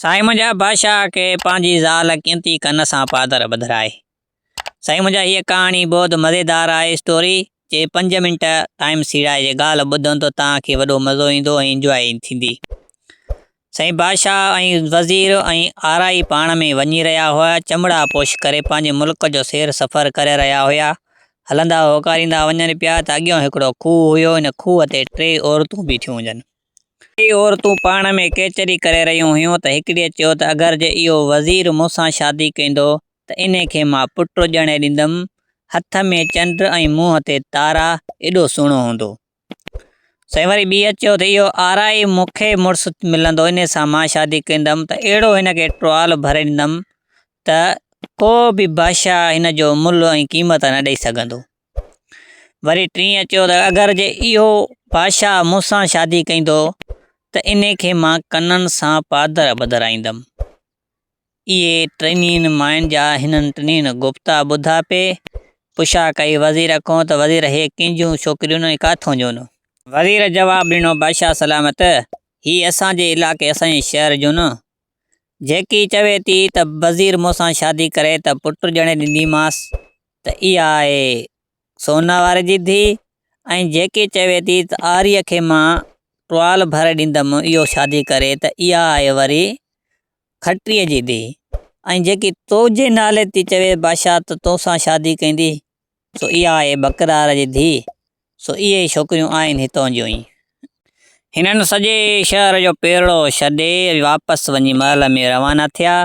سائين منهنجا بادشاهه کي پنهنجي زال قيمتي ڪن سان پادر ٻڌرائي. سائين منهنجا هيء ڪهاڻي بهت مزيدار آهي اسٽوري جي پنج منٽ ٽائيم سيڙائي جي ڳالهه ٻڌن ته توهان کي وڏو مزو ايندو ۽ انجواء ٿيندي سائين بادشاهه ۽ وزير ۽ آرائي پاڻ ۾ وڃي رهيا هئا چمڙا پوش ڪري پنهنجي ملڪ جو سير سفر ڪري رهيا هيا هلندا هوڪاريندا وڃن پيا ته اڳيئون هڪڙو کوهه هيو ان کوهه تي ٽي عورتون بيٺيون هجن. ڪيئي عورتون پاڻ ۾ ڪيچري ڪري رهيون هيون ته هڪڙيء چيو ته اگر جي اهو وزير مون سان شادي ڪيندو ته انهي کي مان پٽ ڄڻي ڏيندم، هٿ ۾ چنڊ ۽ منهن تي تارا، ايڏو سهڻو هوندو. سائين وري ٻيء چيو ته اهو آرائي مون کي مڙس ملندو انهي سان مان شادي ڪيندم ته اهڙو هن کي ٽوال ڀري ڏيندم ته ڪو به بادشاهه هن جو ملهه ۽ قيمت نه ڏئي سگهندو. وري ٽينء چيو ته اگر جي اهو بادشاهه مون سان شادي ڪندو ته ان کي مان ڪنن سان پادر ٻڌرائيندم. اهي ٽنهي ماين جا هنن ٽنهي گفتا ٻڌا پي پڇا ڪئي وزير کان ته وزير هي ڪنهن جون ڇوڪريون ۽ ڪاٿون جون؟ وزير جواب ڏنو بادشاهه سلامت! هي اسان جي علائقي اسان جي شهر جون. جيڪي چوي ٿي ته وزير مون سان شادي ڪري ته پٽ ڄڻي ڏينديمانس ته اها آهي سونا واري جي ڌيء ۽ جيڪي چوي ٿي ته آريء کي مان ٽوال ڀر ڏيندم اهو شادي ڪري ته اها آهي وري کٽريء جي ڌيء ۽ جيڪي توجي نالي ٿي چوي بادشاهه ته تو سان شادي ڪندي سو اها آهي بڪرار جي ڌيء سو اهي ئي ڇوڪريون آهن هتان جون ۽ هنن سڄي شهر جو پيرڙو ڇڏي واپس وڃي محل ۾ روانا ٿيا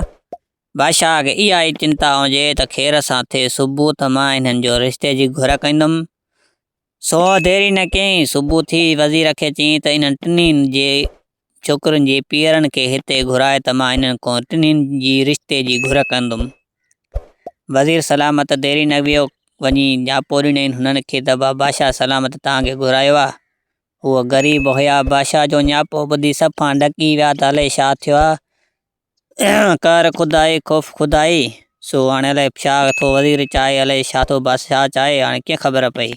بادشاهه کي اها ئي چنتا هجي ته خير سان ٿئي صبح ته مان انهن جو رشتي جي گهر ڪندم. سو ديري نه ڪيائين. صبح ٿي وزير کي چيائين ته انهن ٽنهي جي ڇوڪرين جي پيئرن کي هتي گهرائي ته مان انهن کان ٽنهي جي رشتي جي گهر ڪندم. وزير سلامت ديري نه ويو، وڃي جهاپو ڏنائين هنن کي ته ڀا بادشاهه سلامت توهان کي گهرايو آ. هو غريب هيا، بادشاهه جو جهاپو ٻڌي سڀ پاڻ ڏڪي ويا ته الئي ڇا ٿيو آ. ڪر خدائي خوف خدائي، سو هاڻي الائي ڇا ٿو وزير چاهي، الائي ڇا ٿو بادشاهه چاهي، هاڻي ڪيئن خبر پئي.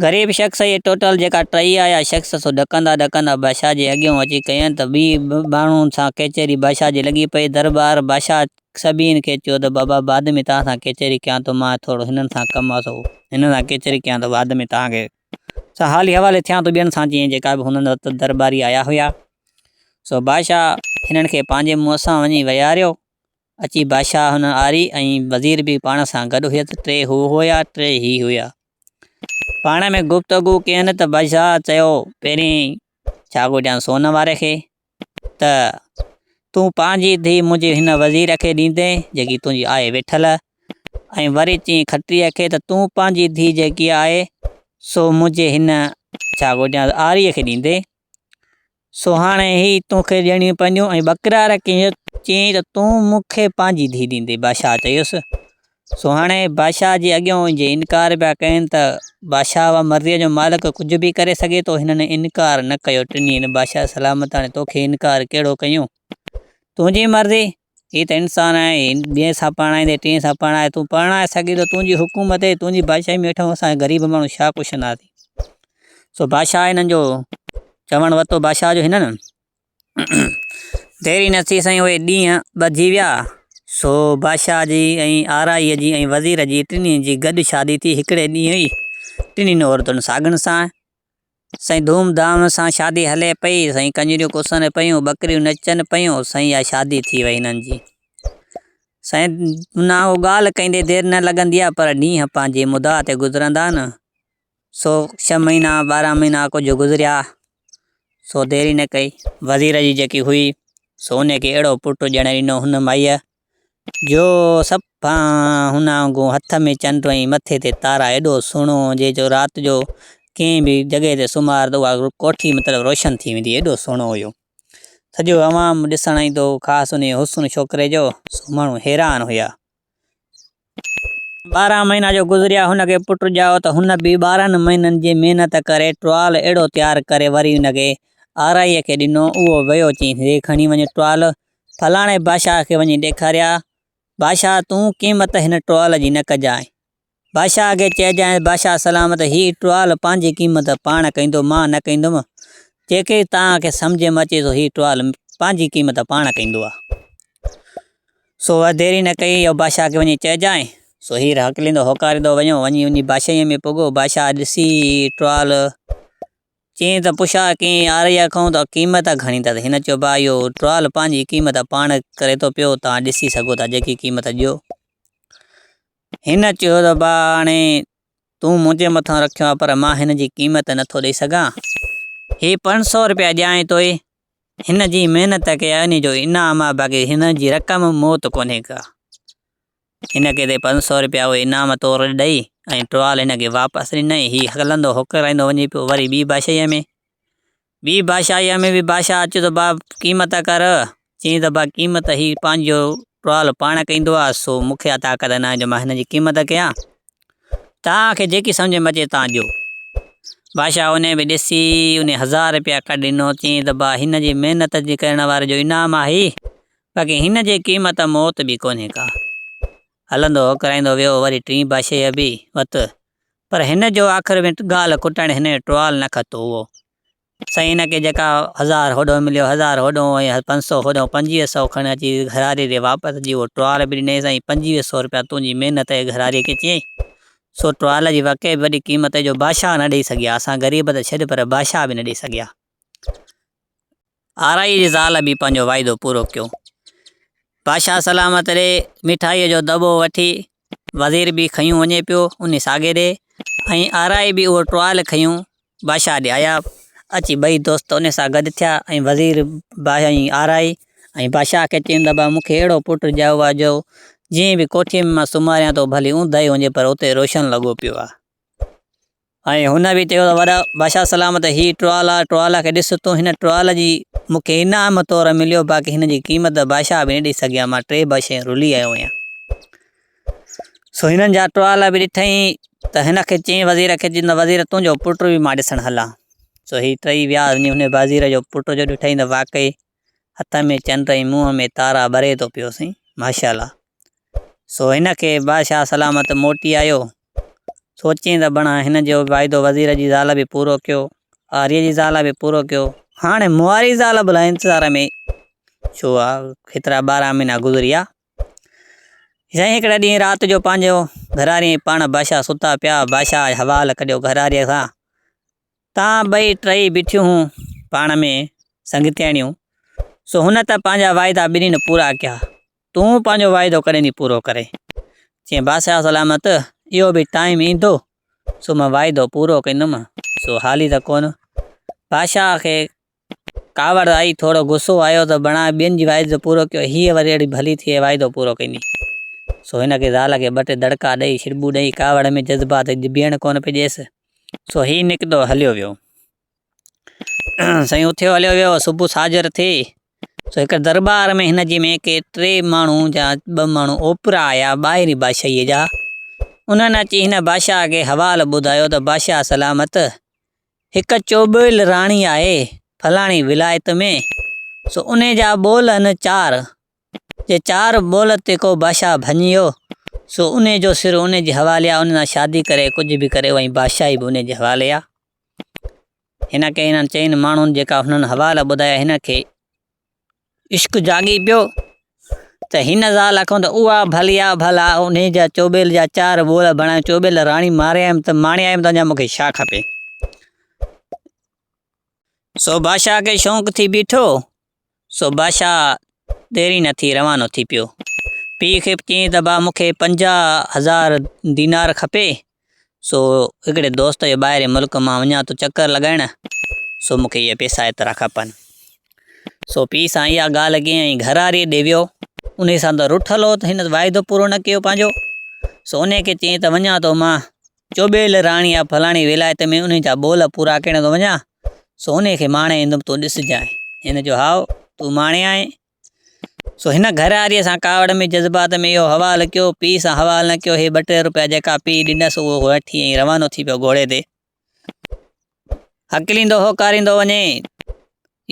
غريب شخص اهي ٽوٽل جيڪا ٽهي آيا شخص، سو ڏڪندا ڏڪندا بادشاهه جي اڳيئون اچي ڪيائين ته ٻي ٻانهن سان ڪچهري بادشاهه جي لڳي پئي. درٻار بادشاهه سڀني کي چيو ته بابا بعد ۾ توهان سان ڪچهري ڪيان ٿو، مان ٿورو هنن سان ڪم آ، سو هنن سان ڪچهري ڪيان ٿو، بعد ۾ توهان کي سا حالي حوالي ٿيان تو ٻين سان جيئن جيڪا به هنن وت درٻاري آيا هيا. سو بادشاهه هنن کي پنهنجي منهن سان وڃي ويهاريو. اچي بادشاهه هن آري ۽ وزير به پاڻ سان گڏ هيس ٽي هو هيا ٽي هي هيا. پاڻ ۾ گفتگو ڪين ته بادشاهه چيو پهرين ڇا گهرجان سون واري کي. ته تون پنهنجي ڌيء منهنجي هن وزير کي ڏيندين جيڪي تنهنجي آهي ويٺل. ۽ وري چيائين کٽريء کي ته تون پنهنجي ڌيء جيڪي آهي سو منهنجي هن ڇا گهجان آريء کي ڏيندين. سو هاڻي هي تو کي ڏيڻيون پونديون. ۽ ٻڪرار کي چيائين ته تون مون کي پنهنجي ڌيء ڏيندين. بادشاهه چيس سو هاڻي بادشاهه جي اڳيون جي انڪار پيا ڪين ته بادشاهه اها مرضيء جو مالڪ ڪجهه به ڪري سگهي ٿو. هنن انڪار نه ڪيو. ٽنهين بادشاهه سلامتاڻي توکي انڪار ڪهڙو ڪيون. تنهنجي مرضي. هي ته انسان آهي. هي ٻئي سان پرڻائيندي ٽئين سان پرڻائي تون پرڻائي سگهين ٿو. تنهنجي حڪومت ۽ تنهنجي بادشاهي ۾ هيٺون اسان غريب ماڻهو ڇا ڪشنداسين. سو بادشاهه هنن جو چوڻ ورتو. بادشاهه جو هنن. ديري نه ٿي سائين اهي ڏينهن ٻڌجي ويا، سو بادشاهه جي ۽ آرائيء جي ۽ وزير جي ٽنهي جي گڏ شادي ٿي. هڪڙي ڏينهن ئي ٽنهين عورتن ساڳن سان سائين ڌوم ڌام سان شادي هلي پئي سائين ڪنجريون ڪسن پيون ٻڪريون نچن پيون سائين اها شادي ٿي وئي هنن جي سائين منان اهو ڳالهه ڪندي دير نه لڳندي آهي پر ڏينهن پنهنجي مدعا تي گذرندا آهن سو ڇهه مهينا ٻارهن مهينا ڪجهه گذريا، سو ديري نه ڪئي، وزير جي جيڪي هئي، سو ان کي اهڙو پٽ ڄڻي ڏنو هن مائيء، جو سڀ هن وانگون هٿ ۾ چنڊ ۽ مٿي تي تارا، ايڏو سهڻو جي جو رات جو ڪنهن به جڳهه تي سمهار ته اها ڪوٺي مطلب روشن ٿي ويندي، ايڏو سهڻو هيو. سڄو عوام ڏسڻ ايندو هو، خاص انهيء حسن ڇوڪري جو، سو ماڻهو حيران هيا. ٻارهن مهينا جو گذريا هن کي پٽ ڄائو ته هن به ٻارهن مهينن جي محنت ڪري ٽوال اهڙو تيار ڪري وري ان کي آرائيء کي ڏنو اهو ويو چيس هي کڻي وڃ ٽوال فلاڻي بادشاهه کي وڃي ڏيکاريا بادشاهه تون قيمت هن ٽوال جي نه ڪجانء بادشاهه کي چئجانء بادشاهه سلامت هي ٽوال پنهنجي قيمت پاڻ ڪندو مان نه ڪندم جيڪي توهان کي سمجهه ۾ اچي سو هي ٽوال پنهنجي قيمت پاڻ ڪندو آ. سو وڌ ديري نه ڪئي او بادشاهه کي وڃي چئجانء. سو هير هاڪليندو هوڪاريندو وڃيو، وڃي وڃي بادشاهيء ۾ پڳو، بادشاهه ڏسي ٽوال چين ته پڇا ڪين آريا کانئن ته قيمت گهڻي اٿس، هن چيو ڀاء اهو ٽوال پنهنجي قيمت پاڻ ڪري ٿو پيو، توهان ڏسي سگهو ٿا جيڪي قيمت ڏيو. هن چيو ته ڀاء هاڻي تون منهنجي مٿان رکيو آهي پر مان هن جي قيمت نه ٿو ڏئي سگهان، هي پنج سئو رپيا ڏيانء توء هن جي محنت کي هن جو انعام آ باقي هن جي رقم موت ڪونهي ڪا. هن کي تي پنج سؤ روپيا اهي انعام طور ڏئي ۽ ٽوال هن کي واپس ڏنائين. هي هڪلندو هوڪرائيندو وڃي پيو وري ٻي بادشاهيء ۾. ٻي بادشاهيء ۾ به بادشاهه اچيو ته با قيمت ڪر. چيائين ته با قيمت هي پنهنجو ٽوال پاڻ ڪيندو آ سو مون کي اها طاقت ناهي جو مان هن جي قيمت ڪيان. توهان کي جيڪي سمجهه ۾ اچي توهان ڏيو. بادشاهه انهيء به ڏسي انهيء هزار رپيا ڪڍي ڏنو، چيائين ته با هن جي محنت جي ڪرڻ واري جو انعام آهي، باقي هن جي قيمت موت به ڪونهي ڪا. هلندو هوڪرائيندو ويو وري ٽين بادشاهيء به وت، پر هن جو آخر ۾ ڳالهه ڪٽڻ هن جو ٽوال نه کتو هئو. سائين هن کي جيڪا هزار هوڏو مليو هزار هوڏو ۽ پنج سئو هوڏو پنجويهه سئو کڻ اچي گهراري ڏي واپس جي اهو ٽوال به ڏنيس ۽ پنجويهه سئو روپيا تنهنجي محنت جي گهراري کي چيائين سو ٽوال جي واقعي وڏي قيمت جو بادشاهه نه ڏئي سگهيا اسان غريب ته ڇڏ پر بادشاهه به نه ڏئي سگهيا آرائي جي زال به پنهنجو واعدو پورو ڪيو بادشاهه سلامت ڏي مٺائيء جو دٻو وٺي وزير به کنيون وڃي پيو ان ساڳي ڏي ۽ آرائي به اهو ٽوال کنيون بادشاهه ڏي آيا. اچي ٻئي دوست ان سان گڏ ٿيا ۽ وزير باهه ۽ آرائي ۽ بادشاهه کي چين ته ابا مون کي اهڙو پٽ ڄائو آ جو جئين به ڪوٺيء ۾ مان سمهاريان ٿو ڀلي اونداهي هجي پر اتي روشن لڳو پيو آ. ۽ هن به چيو ته وڏا بادشاهه سلام ته هي ٽوال آ ٽوال کي ڏس تون هن ٽوال جي مون کي انعام طور مليو باقي هن جي قيمت ته بادشاهه به نه ڏئي سگهيا مان ٽي ٻه شيون رلي آيو هيان. سو هنن جا ٽوالا به ڏٺائين ته هن کي چيائين وزير کي چيائين ته وزير تنهنجو پٽ به مان ڏسڻ هلان. سو هي ٽئي ويا وڃي هن وزير جو پٽ جو ڏٺائين ته واقعي هٿ ۾ چنڊ ۽ منهن ۾ تارا ٻري ٿو پيو سائين ماشاءالله. سو هن کي بادشاهه سلامت موٽي آيو. سوچيائين ته بڻا هن جو واعدو وزير جي زال به پورو ڪيو، آريء جي زال به پورو ڪيو، هاڻي مهاري زال به الائي انتظار ۾ ڇو آ. هيترا ٻارهن مهينا گذريا جنهن هڪڙي ڏينهن رات جو پنهنجو گهراري ۽ پاڻ بادشاهه ستا پيا. بادشاهه جو حوال ڪڍيو گهراري کان. تان ٻئي ٽيئي بيٺيون هيون پاڻ ۾ سنگتياڻيون. سو هن ته پنهنجا واعدا ٻنهي نه پورا ڪيا. تون پنهنجو واعدو ڪڏهن ٿي پورو ڪرين؟ چيائين بادشاهه سلامت اهو به ٽائيم ايندو سو مان واعدو پورو ڪندم. سو حالي ته ڪونه. بادشاهه کي ڪاوڙ آئي، ٿورو غصو آيو ته بڻاء ٻين جي واعدو پورو ڪيو، هيء وري اهڙي ڀلي ٿي ۽ واعدو پورو ڪندي. سو هن کي زال کي ٻه ٽي دڙڪا ڏئي، ڇڙٻون ڏئي، ڪاوڙ ۾ جذبات جي ڀيڻ ڪونه پئي ڏيس. سو هي نڪتو هليو ويو. سائين اٿيو هليو ويو، صبح ساجهر ٿي، سو هڪڙي درٻار ۾ هن جي ۾ ڪي ٽي ماڻهو جا ٻه ماڻهو اوپرا آيا، ٻاهرين بادشاهيء جا. انهن اچي هن بادشاهه کي حوال ٻڌايو ته بادشاهه سلامت، هڪ چوٻيل راڻي آهي فلاڻي ولايت ۾، سو ان جا ٻول آهن چار، جي چار ٻول تي ڪو بادشاهه ڀڃيو، سو ان جو سر ان جي حوالي آهي، ان سان شادي ڪري ڪجهه به ڪري اها بادشاهي به ان جي حوالي آهي. هن کي هنن چئن ماڻهن جيڪا هنن حوالا ٻڌايا هن کي عشق جاڳي پيو ته هن زال کان ته اها ڀلي آ ڀلا ان جا چوٻيل جا چار ٻول بڻايو چوٻيل راڻي ماري آيم ته ماڻي آيم ته اڃا مون کي ڇا کپي. سو بادشاهه کي شوق ٿي بيٺو، سو بادشاهه ديري نه ٿي روانو ٿي پيو. پيء کي چيائين ته با مون کي پنجاهه هزار دينار کپي، سو هڪڙي دوست جو ٻاهرين ملڪ مان وڃان ٿو چڪر لڳائڻ، سو مون کي اهي پيسا ايترا کپن. سو پيء سان اها ڳالهه ڪيائين ۽ گهراري ڏي ويو. انهيء سان ته رٺل هو ته هن واعدو پورو نه ڪيو پنهنجو. سو انهيء کي چيائين ته وڃان ٿو مان چوٻيل راڻي يا فلاڻي ولايت ۾ انهيء جا ٻول پورا ڪرڻ ٿو وڃان، سو انهيء کي ماڻي ايندم تون ڏسجانء. هن چيو هائو، تون ماڻي آئين، سو هن گهر واريء سان ڪاوڙ ۾ جذبات ۾ اهو حوال ڪيو. پيء سان حوال نه ڪيو. هي ٻه ٽي روپيا جيڪا پيء ڏنس اهو وٺي ائين روانو ٿي پيو گهوڙي تي. هڪليندو هو ڪاريندو وڃي.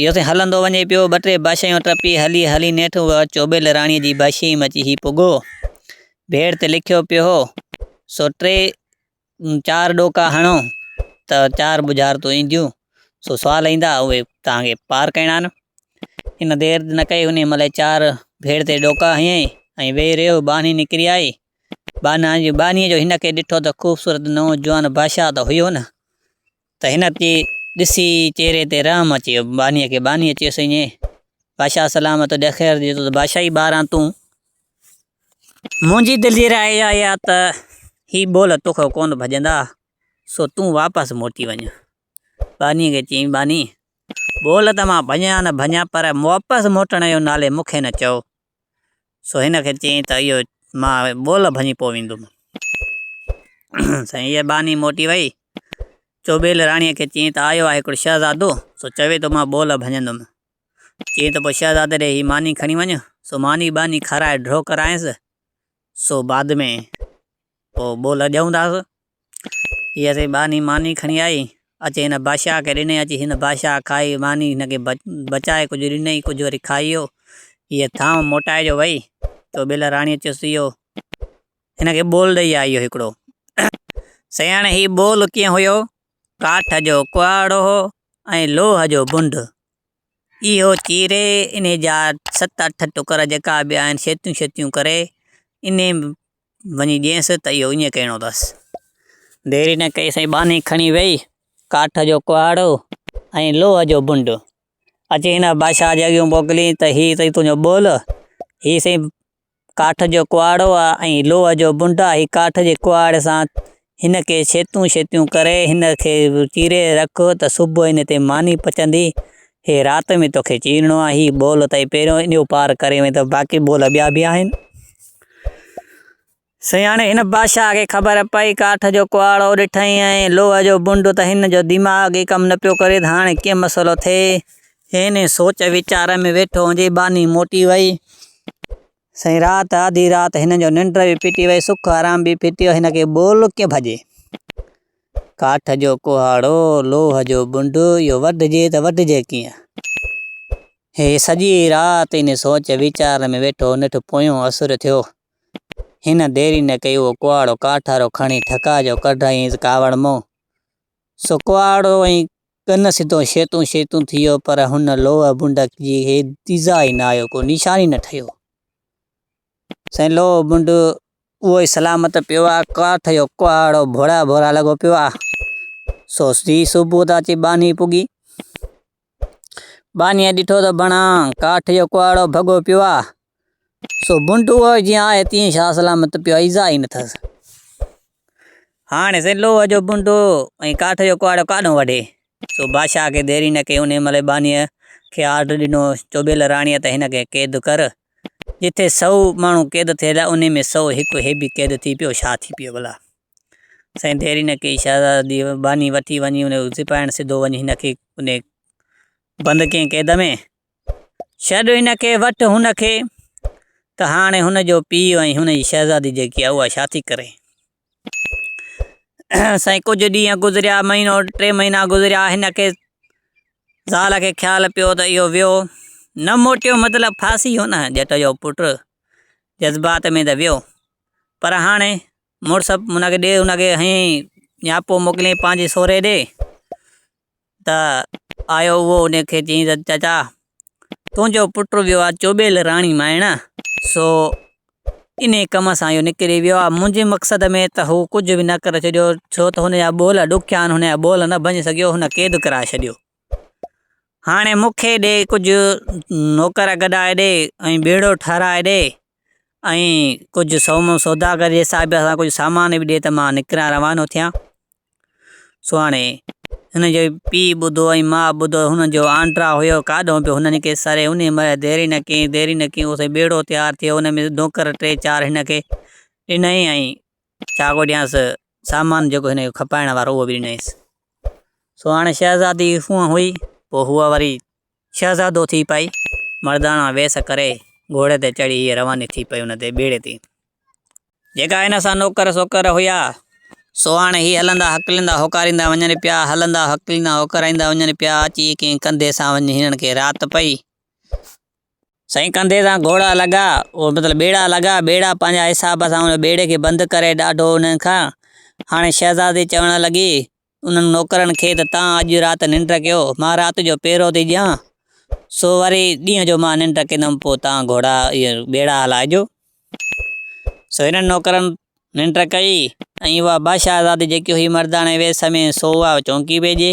اهو سين هلندو وڃي پيو. ٻه ٽي باشيون ٽپي هلي هلي نيٺ هو چوٻيل راڻيء جي باشيء ۾ اچي هي پڳو. بيڙ تي لکيو پيو هو. سو ٽي چار ڏوڪا هڻو ته چار ٻجهارتون اينديون، سو سوال ايندا اهي توهان کي پار ڪرڻا آهن. هن دير نه ڪئي انهيء مهل ئي چار ڀيڙ تي ڏوڪا هنيائين ۽ ويهي رهيو، ٻانهي نڪري آئي. ٻانهيء جو هن کي ڏٺو ته خوبصورت نوجوان بادشاهه ته هيو نه! ته هن اچي ڏسي چهري تي رحم اچي ويو. ٻانهيء کي ٻانهيء چيس، اڃ بادشاهه سلام تو ڏي خير جي تو ته بادشاهي ٻار آن تون. منهنجي دل جي راء اها آهي ته هي ٻول توکان ڪونه ڀڄندا، سو تون واپس موٽي وڃ. ٻانهيء کي چيائين، ٻانهي! ٻول ته مان ڀڃان نه ڀڃان پر واپس موٽڻ جو نالي مون کي نه چئو. سو هن کي چيائين ته اهو مان ٻول ڀڃي پوء ويندم. سائين اها ٻانهي موٽي وئي. چوٻيل راڻيء کي چيائين ته آيو آهي هڪڙو شهزادو، سو چوي ٿو مان ٻول ڀڃندم. چيائين ته پوء شهزادي ڏي هي ماني کڻي وڃ. سو ماني ٻانهي کارائي ڍرو ڪرايس. سو بعد ۾ پوء ٻول ڏيئون ٿا سو. هي اسي ٻانهي ماني کڻي آئي، اچي هن بادشاهه کي ڏني، اچي هن بادشاهه کائي ماني هن کي بچائي ڪجهه ڏنئي، ڪجهه وري کائيو، هيء ٿانء موٽائي جو وئي، تو ٻيل راڻيء چيس اهو هن کي ٻول ڏئي آئي هو هڪڙو. سياڻي هي ٻول ڪيئن هيو، ڪاٺ جو ڪهاڙو هو ۽ لوهه جو بنڊ، اهو چيري انهي جا ست اٺ ٽڪر جيڪا به آهن شيتيون شيتيون ڪري انهي وڃي ڏينس ته اهو ايئن ڪهڻو اٿس. ديري نه ڪئي سائين ٻانهي کڻي ويئي ڪاٺ جو ڪهاڙو ۽ لوهه جو بنڊ اچي هن بادشاهه جي اڳيون موڪليائين ته هي اٿئي تنهنجو ٻول، هي سائين ڪاٺ جو ڪهاڙو آهي ۽ لوهه جو بنڊ آهي، هي ڪاٺ جي ڪهاڙي سان هن کي شيتون شيتون ڪري، هن کي چيري رک ته صبح هن تي ماني پچندي. هي رات ۾ توکي چيرڻو آهي. هي ٻول تائين پهريون انيو پار ڪري وئين ته باقي ٻول ٻيا به آهن. سياڻي هن بادشاهه کي خبر پئي. ڪاٺ جو ڪهاڙو ڏٺئين ۽ لوهه جو بنڊ ته هن جو دماغ ئي ڪم نه پيو ڪري ته هاڻي ڪيئن مسئلو ٿئي. هن سوچ ويچار ۾ ويٺو هوندي، ٻانهي موٽي وئي. سائين رات آڌي رات هن جو ننڊ به ڦٽي وئي سک آرام به ڦٽي وئي هن کي ٻول ڪئين ڀڄي. ڪاٺ جو ڪهاڙو لوهه جو ٻنڊ اهو وڍجي ته وڍجي ڪيئن. هي سڄي رات ان سوچ ويچار ۾ ويٺو نيٺ پويون اسر ٿيو هن ديري نه ڪئي اهو ڪهاڙو ڪاٺارو کڻي ٺڪاء جو ڪڍيائينس ڪاوڙ مون سو ڪهاڙو ۽ ڪن سڌو شيتون شيتون ٿي ويو، پر هن لوهه بنڊڪ جي هي ديزا ئي نه آيو، ڪو نشان ئي نه ٺهيو. سائين لوهه بنڊ اهو ئي سلامت پيو آ، ڪاٺ جو ڪهاڙو ڀورا ڀورا لڳو پيو آ. سو سڌي صبح ته اچي ٻانهي پڳي. ٻانهيء ڏٺو ته بڻان ڪاٺ جو ڪهاڙو ڀڳو پيو آ. سو بنٽوء جيان آهي تيئن شاهه سلامت پيو ايذاء ئي نه ٿئس. هاڻي سين لوهه جو بنٽو ۽ ڪاٺ جو ڪهاڙو ڪاڏهون وڍي؟ سو بادشاهه کي ديري نه ڪئي انهيء ملئي ٻانهيء کي آرڊر ڏنو، چوٻيل راڻيء ته هن کي قيد ڪر. جتي سئو ماڻهو قيد ٿيل انهيء ۾ سئو هڪ هي به قيد ٿي پيو شاهه ٿي پيو ڀلا. سائين ديري نه ڪئي شهزادي ٻانهي وٺي وڃي انهيء سپاهين سڌو وڃي هن کي انهيء بند ڪيئن قيد ۾. ڇڏ هن کي، وٺ هن کي. ته هاڻي هن جو پيء ۽ هن جي شهزادي جيڪي آهي، اها ڇا ٿي ڪري؟ سائين ڪجهه ڏينهن گذريا، مهينو ٽي مهينا گذريا، هن کي زال کي خيال پيو ته اهو ويو، نه موٽيو مطلب ڦاسي ويو نه، ڄٽ جو پٽ جذبات ۾ ته ويو، پر هاڻي مڙس هن کي ڏي، هن کي هنيئي نياپو موڪليئي پنهنجي سوري ڏي. ته آيو اهو ان کي چيائين ته چچا تنهنجو پٽ ويو آ چوٻيل راڻي مائڻ سو ان ڪم سان اهو نڪري ويو آ منهنجي مقصد ۾ ته هو ڪجهه به نه ڪري ڇڏيو ڇو ته هن جا ٻول ڏکيا آهن هن جا ٻول نه ڀڃي سگهيو هن قيد ڪرائي ڇڏيو هاڻي مون کي ڏي ڪجهه نوڪر گڏائي ڏي ۽ ٻيڙو ٺهرائي ڏي ۽ ڪجهه سوم سوداگر جي حساب سان ڪجهه سامان به ڏي ته مان نڪران روانو ٿيان سهاڻي، هن جو پيء ٻڌو ۽ ماء ٻڌو، هن جو آنڊرا هيو ڪاڏهون پيو، هن نڪي سري، انهي مهل دير ئي نه ڪيائين، دير ئي نه ڪيائين، اوسين ٻيڙو تيار ٿيو، ان ۾ نوڪر ٽي چار هن کي ڏنائين ۽ چاڳو ڏيانس، سامان جيڪو هن کي کپائڻ وارو اهو به ڏنائينس. سهاڻي شهزادي هونء هئي، پوء هوء وري. شهزادو ٿي پئي مرداڻا ويس ڪري گهوڙي تي چڙهي هيء رواني ٿي پئي ان تي ٻيڙي تي جيڪا هن سان نوڪر سوڪر هيا سو هاڻي هي هلندا هڪليندا هوڪاريندا وڃن پيا هلندا هڪليندا هوڪاريندا وڃن پيا اچي ڪنهن ڪنڌي سان وڃي هنن کي رات پئي سائين ڪنڌي سان گهوڙا لڳا او مطلب ٻيڙا لڳا ٻيڙا پنهنجا حساب سان ان ٻيڙي کي بند ڪري ڏاڍو انهن کان هاڻي شهزادي چوڻ لڳي انهن نوڪرن کي ته تان اڄ رات ننڊ ڪيو، مان رات جو پهرو ٿي ڏيان، سو وري ڏينهن جو مان ننڊ ڪندم، پوء تان گهوڙا ٻيڙا هلائجو. سو هنن نوڪرن ننڊ ڪئي، ۽ اها بادشاهزادي جيڪي هئي مرداڻي ويس ۾، سو اها چونڪي پئجي.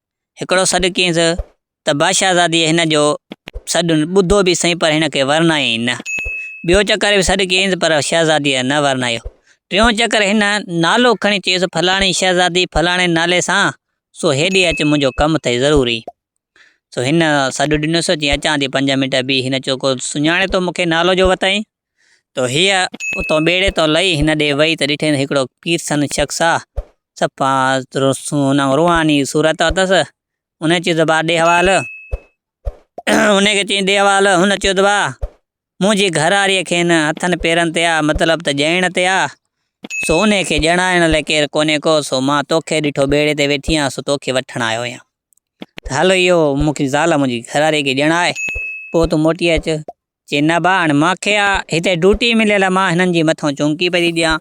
هڪڙو سڏ ڪينس ته بادشاهزاديء هن جو سڏ ٻڌو به سهي پر هن کي ورنايائين نه. ٻيو چڪر به سڏ ڪينس پر شهزاديء نه ورنايو. ٽيون چڪر هن نالو کڻي چيس، فلاڻي شهزادي فلاڻي نالي سان، سو هيڏي اچ منهنجو ڪم اٿئي ضروري. سو هن سڏ ڏنس، چيائين اچان ٿي پنج منٽ بيهه، هن چيو ڪو سڃاڻي ٿو مون کي نالو جو وتائين؟ تو هيء اتون ٻيڙي تان لهي هن ڏي وئي ته ڏٺئي ته هڪڙو پيرسن شخص آ، صفا روحاني صورت اٿس، هن چيو ته با ڏي حوال، هن کي چيائين ڏي حوال، هن چيو ته با منهنجي گهرواريء کين هٿن پيرن تي آ، مطلب ته ڄائڻ تي آ، سو ان کي ڄاڻائڻ لاء ڪير ڪونهي ڪو، سو مان توکي ڏٺو ٻيڙي تي ويٺي آهيان، سو توکي وٺڻ آيو آهيان، ته هل اهو مون کي زال منهنجي گهرواريء کي ڄاڻاء، پوء تون موٽي اچ، چي نه ڀاء هاڻي مان کي هتي ڊوٽي مليل آ مان هنن جي مٿو چونڪي پئي ٿي ڏيان.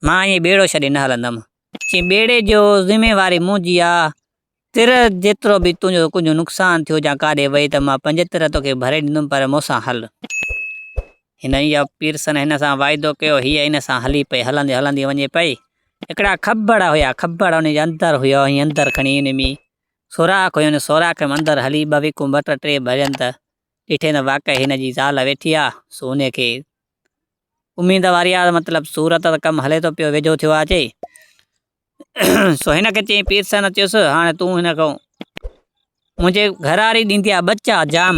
مان ائين ٻيڙو ڇڏي نه هلندم. چي ٻيڙي جو ذميواري منهنجي آ. تر جيترو به تنهنجو ڪنهنجو نقصان ٿيو يا ڪاڏي وئي ته مان پنج تر توکي ڀري ڏيندم پر مون سان هل. هن يا پيرسن هن سان واعدو ڪيو. هيء هن سان هلي پئي. هلندي هلندي وڃي پئي. هڪڙا کٻڙ هيا. کٻڙ ان جي اندر هيا. هيء اندر کڻي ان ۾ سوراخ هيو. ان سوراخ ۾ اندر هلي ٻه ويڪون ٻه ٽه ٽي ڀرين ته ڏٺين ته واقعي هن جي زال ويٺي آ، سو ان کي اميد واري آ، مطلب صورت ته ڪم هلي ٿو پيو، ويجهو ٿيو آ اچي. سو هن کي چيائين، پير سينا چيس، هاڻي تون هن کان منهنجي گهرواري ڏيندي آ ٻچا، جام،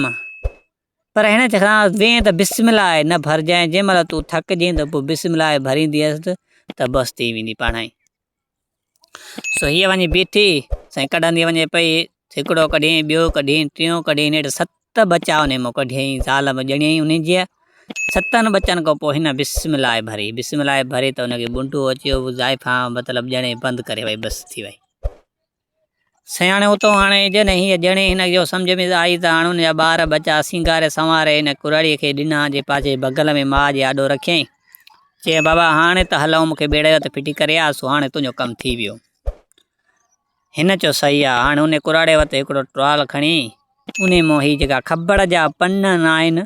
پر هن کان وين ته بسم الله آء نه ڀرجانء، جنهن مهل تون ٿڪجين ته پوء بسم الله آء ڀرينديس ته بس ٿي ويندي پاڻهائي. سو هيء وڃي بيٺي، سائين ڪڍندي وڃي پئي، هڪڙو ڪڍيئين، ٻيو ڪڍيئين، ٽيون ڪڍيئين، نيٺ ست ٻچا ان مئن ڪڍيئين، زال به ڄڻيئي انهيء جيء، ستن ٻچن کان پوء هن بسم الله ڀري، بسم الله ڀري ته ان کي ٻنڊو اچيو، زائفان مطلب ڄڻيئي بند ڪري وئي، بس ٿي وئي. سياڻي اتو هاڻي اجهن هي، ڄڻي هن اهو سمجهه ۾ آئي ته هاڻ هن جا ٻار ٻچا سينگاري سنواري هن ڪرهاڙيء کي ڏنا جي پاڇي بغل ۾ ماء جي آڏو رکيائين. چيائين بابا هاڻي ته هلئون مون کي ٻيڙي رت ڦٽي ڪري آء سو هاڻي تنهنجو ڪم ٿي ويو. هن چيو صحيح آ. هاڻي انهي ڪرهاڙي وٽ هڪڙو ٽوال کڻي. انهي مان هي جيڪا کٻڙ جا پن ناهن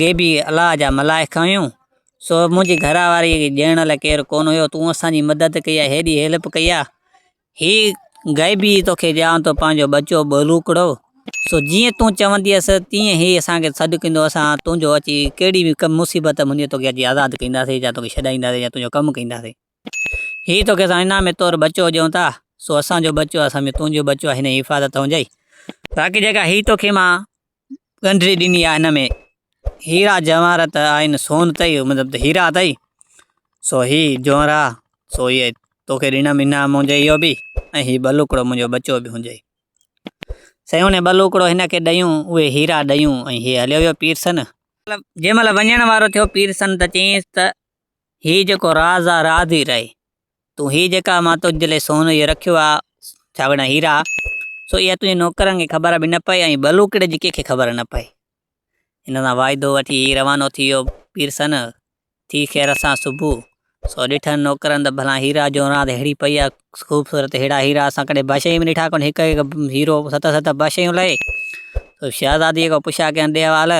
غيبي الله جا ملائڪ آهيون، سو منهنجي گهر واري کي ڏيڻ لاء ڪير ڪونه هيو، تون اسان جي مدد ڪئي آهي، هيڏي هيلپ ڪئي آهي، هي غيبي توکي ڏيان ٿو پنهنجو ٻچو ٻولوڪڙو، سو جيئن تون چونديس تيئن هي اسان کي سڏ ڪندو، اسان تنهنجو اچي ڪهڙي به مصيبت ۾ هوندينء توکي اچي آزاد ڪنداسين يا توکي ڇڏائينداسين يا تنهنجو ڪم ڪنداسين، هي توکي اسان انعام طور ٻچو ڏيون ٿا، سو اسان جو ٻچو آهي، سمجهه تنهنجو ٻچو آهي، هن جي حفاظت هونجئي، باقي جيڪا هي توکي مان ڳنڍري ڏني آ هن ۾، هيرا جواهرات آهن سون تئي، مطلب ته هيرا اٿئي، سو هي جونرا، سو هي توکي ڏنم انعام منهنجو اهو به، ۽ هي ٻلوڪڙو منهنجو ٻچو به هنجي. سيون ۽ ٻلوڪڙو هن کي ڏيون، اهي هيرا ڏيون، ۽ هي هليو ويو پيرسن. جنهن مهل وڃڻ وارو ٿيو پيرسن ته چيائينس ته هي جيڪو راز آ راز ئي رهي. تون هي جيڪا مان تنهنجي لاء سون اهو رکيو آ، ڇا وڙهان هيرا، سو اها تنهنجي نوڪرن کي خبر به نه پئي ۽ بلوڪڙي جي ڪنهنکي خبر نه پئي. هن سان واعدو وٺي هي روانو ٿي ويو. پيرسن، ٿي خير سان صبح، سو ڏٺن نوڪرن ته ڀلا هيرا جون راند ههڙي پئي آ، خوبصورت ههڙا هيرا اسان ڪڏهن بشيء ۾ ڏٺا ڪونه، هڪ هڪ هيرو ست ست بشيون لهي. سو شهزاديء کان پڇيا ڪيائين ڏي حوال،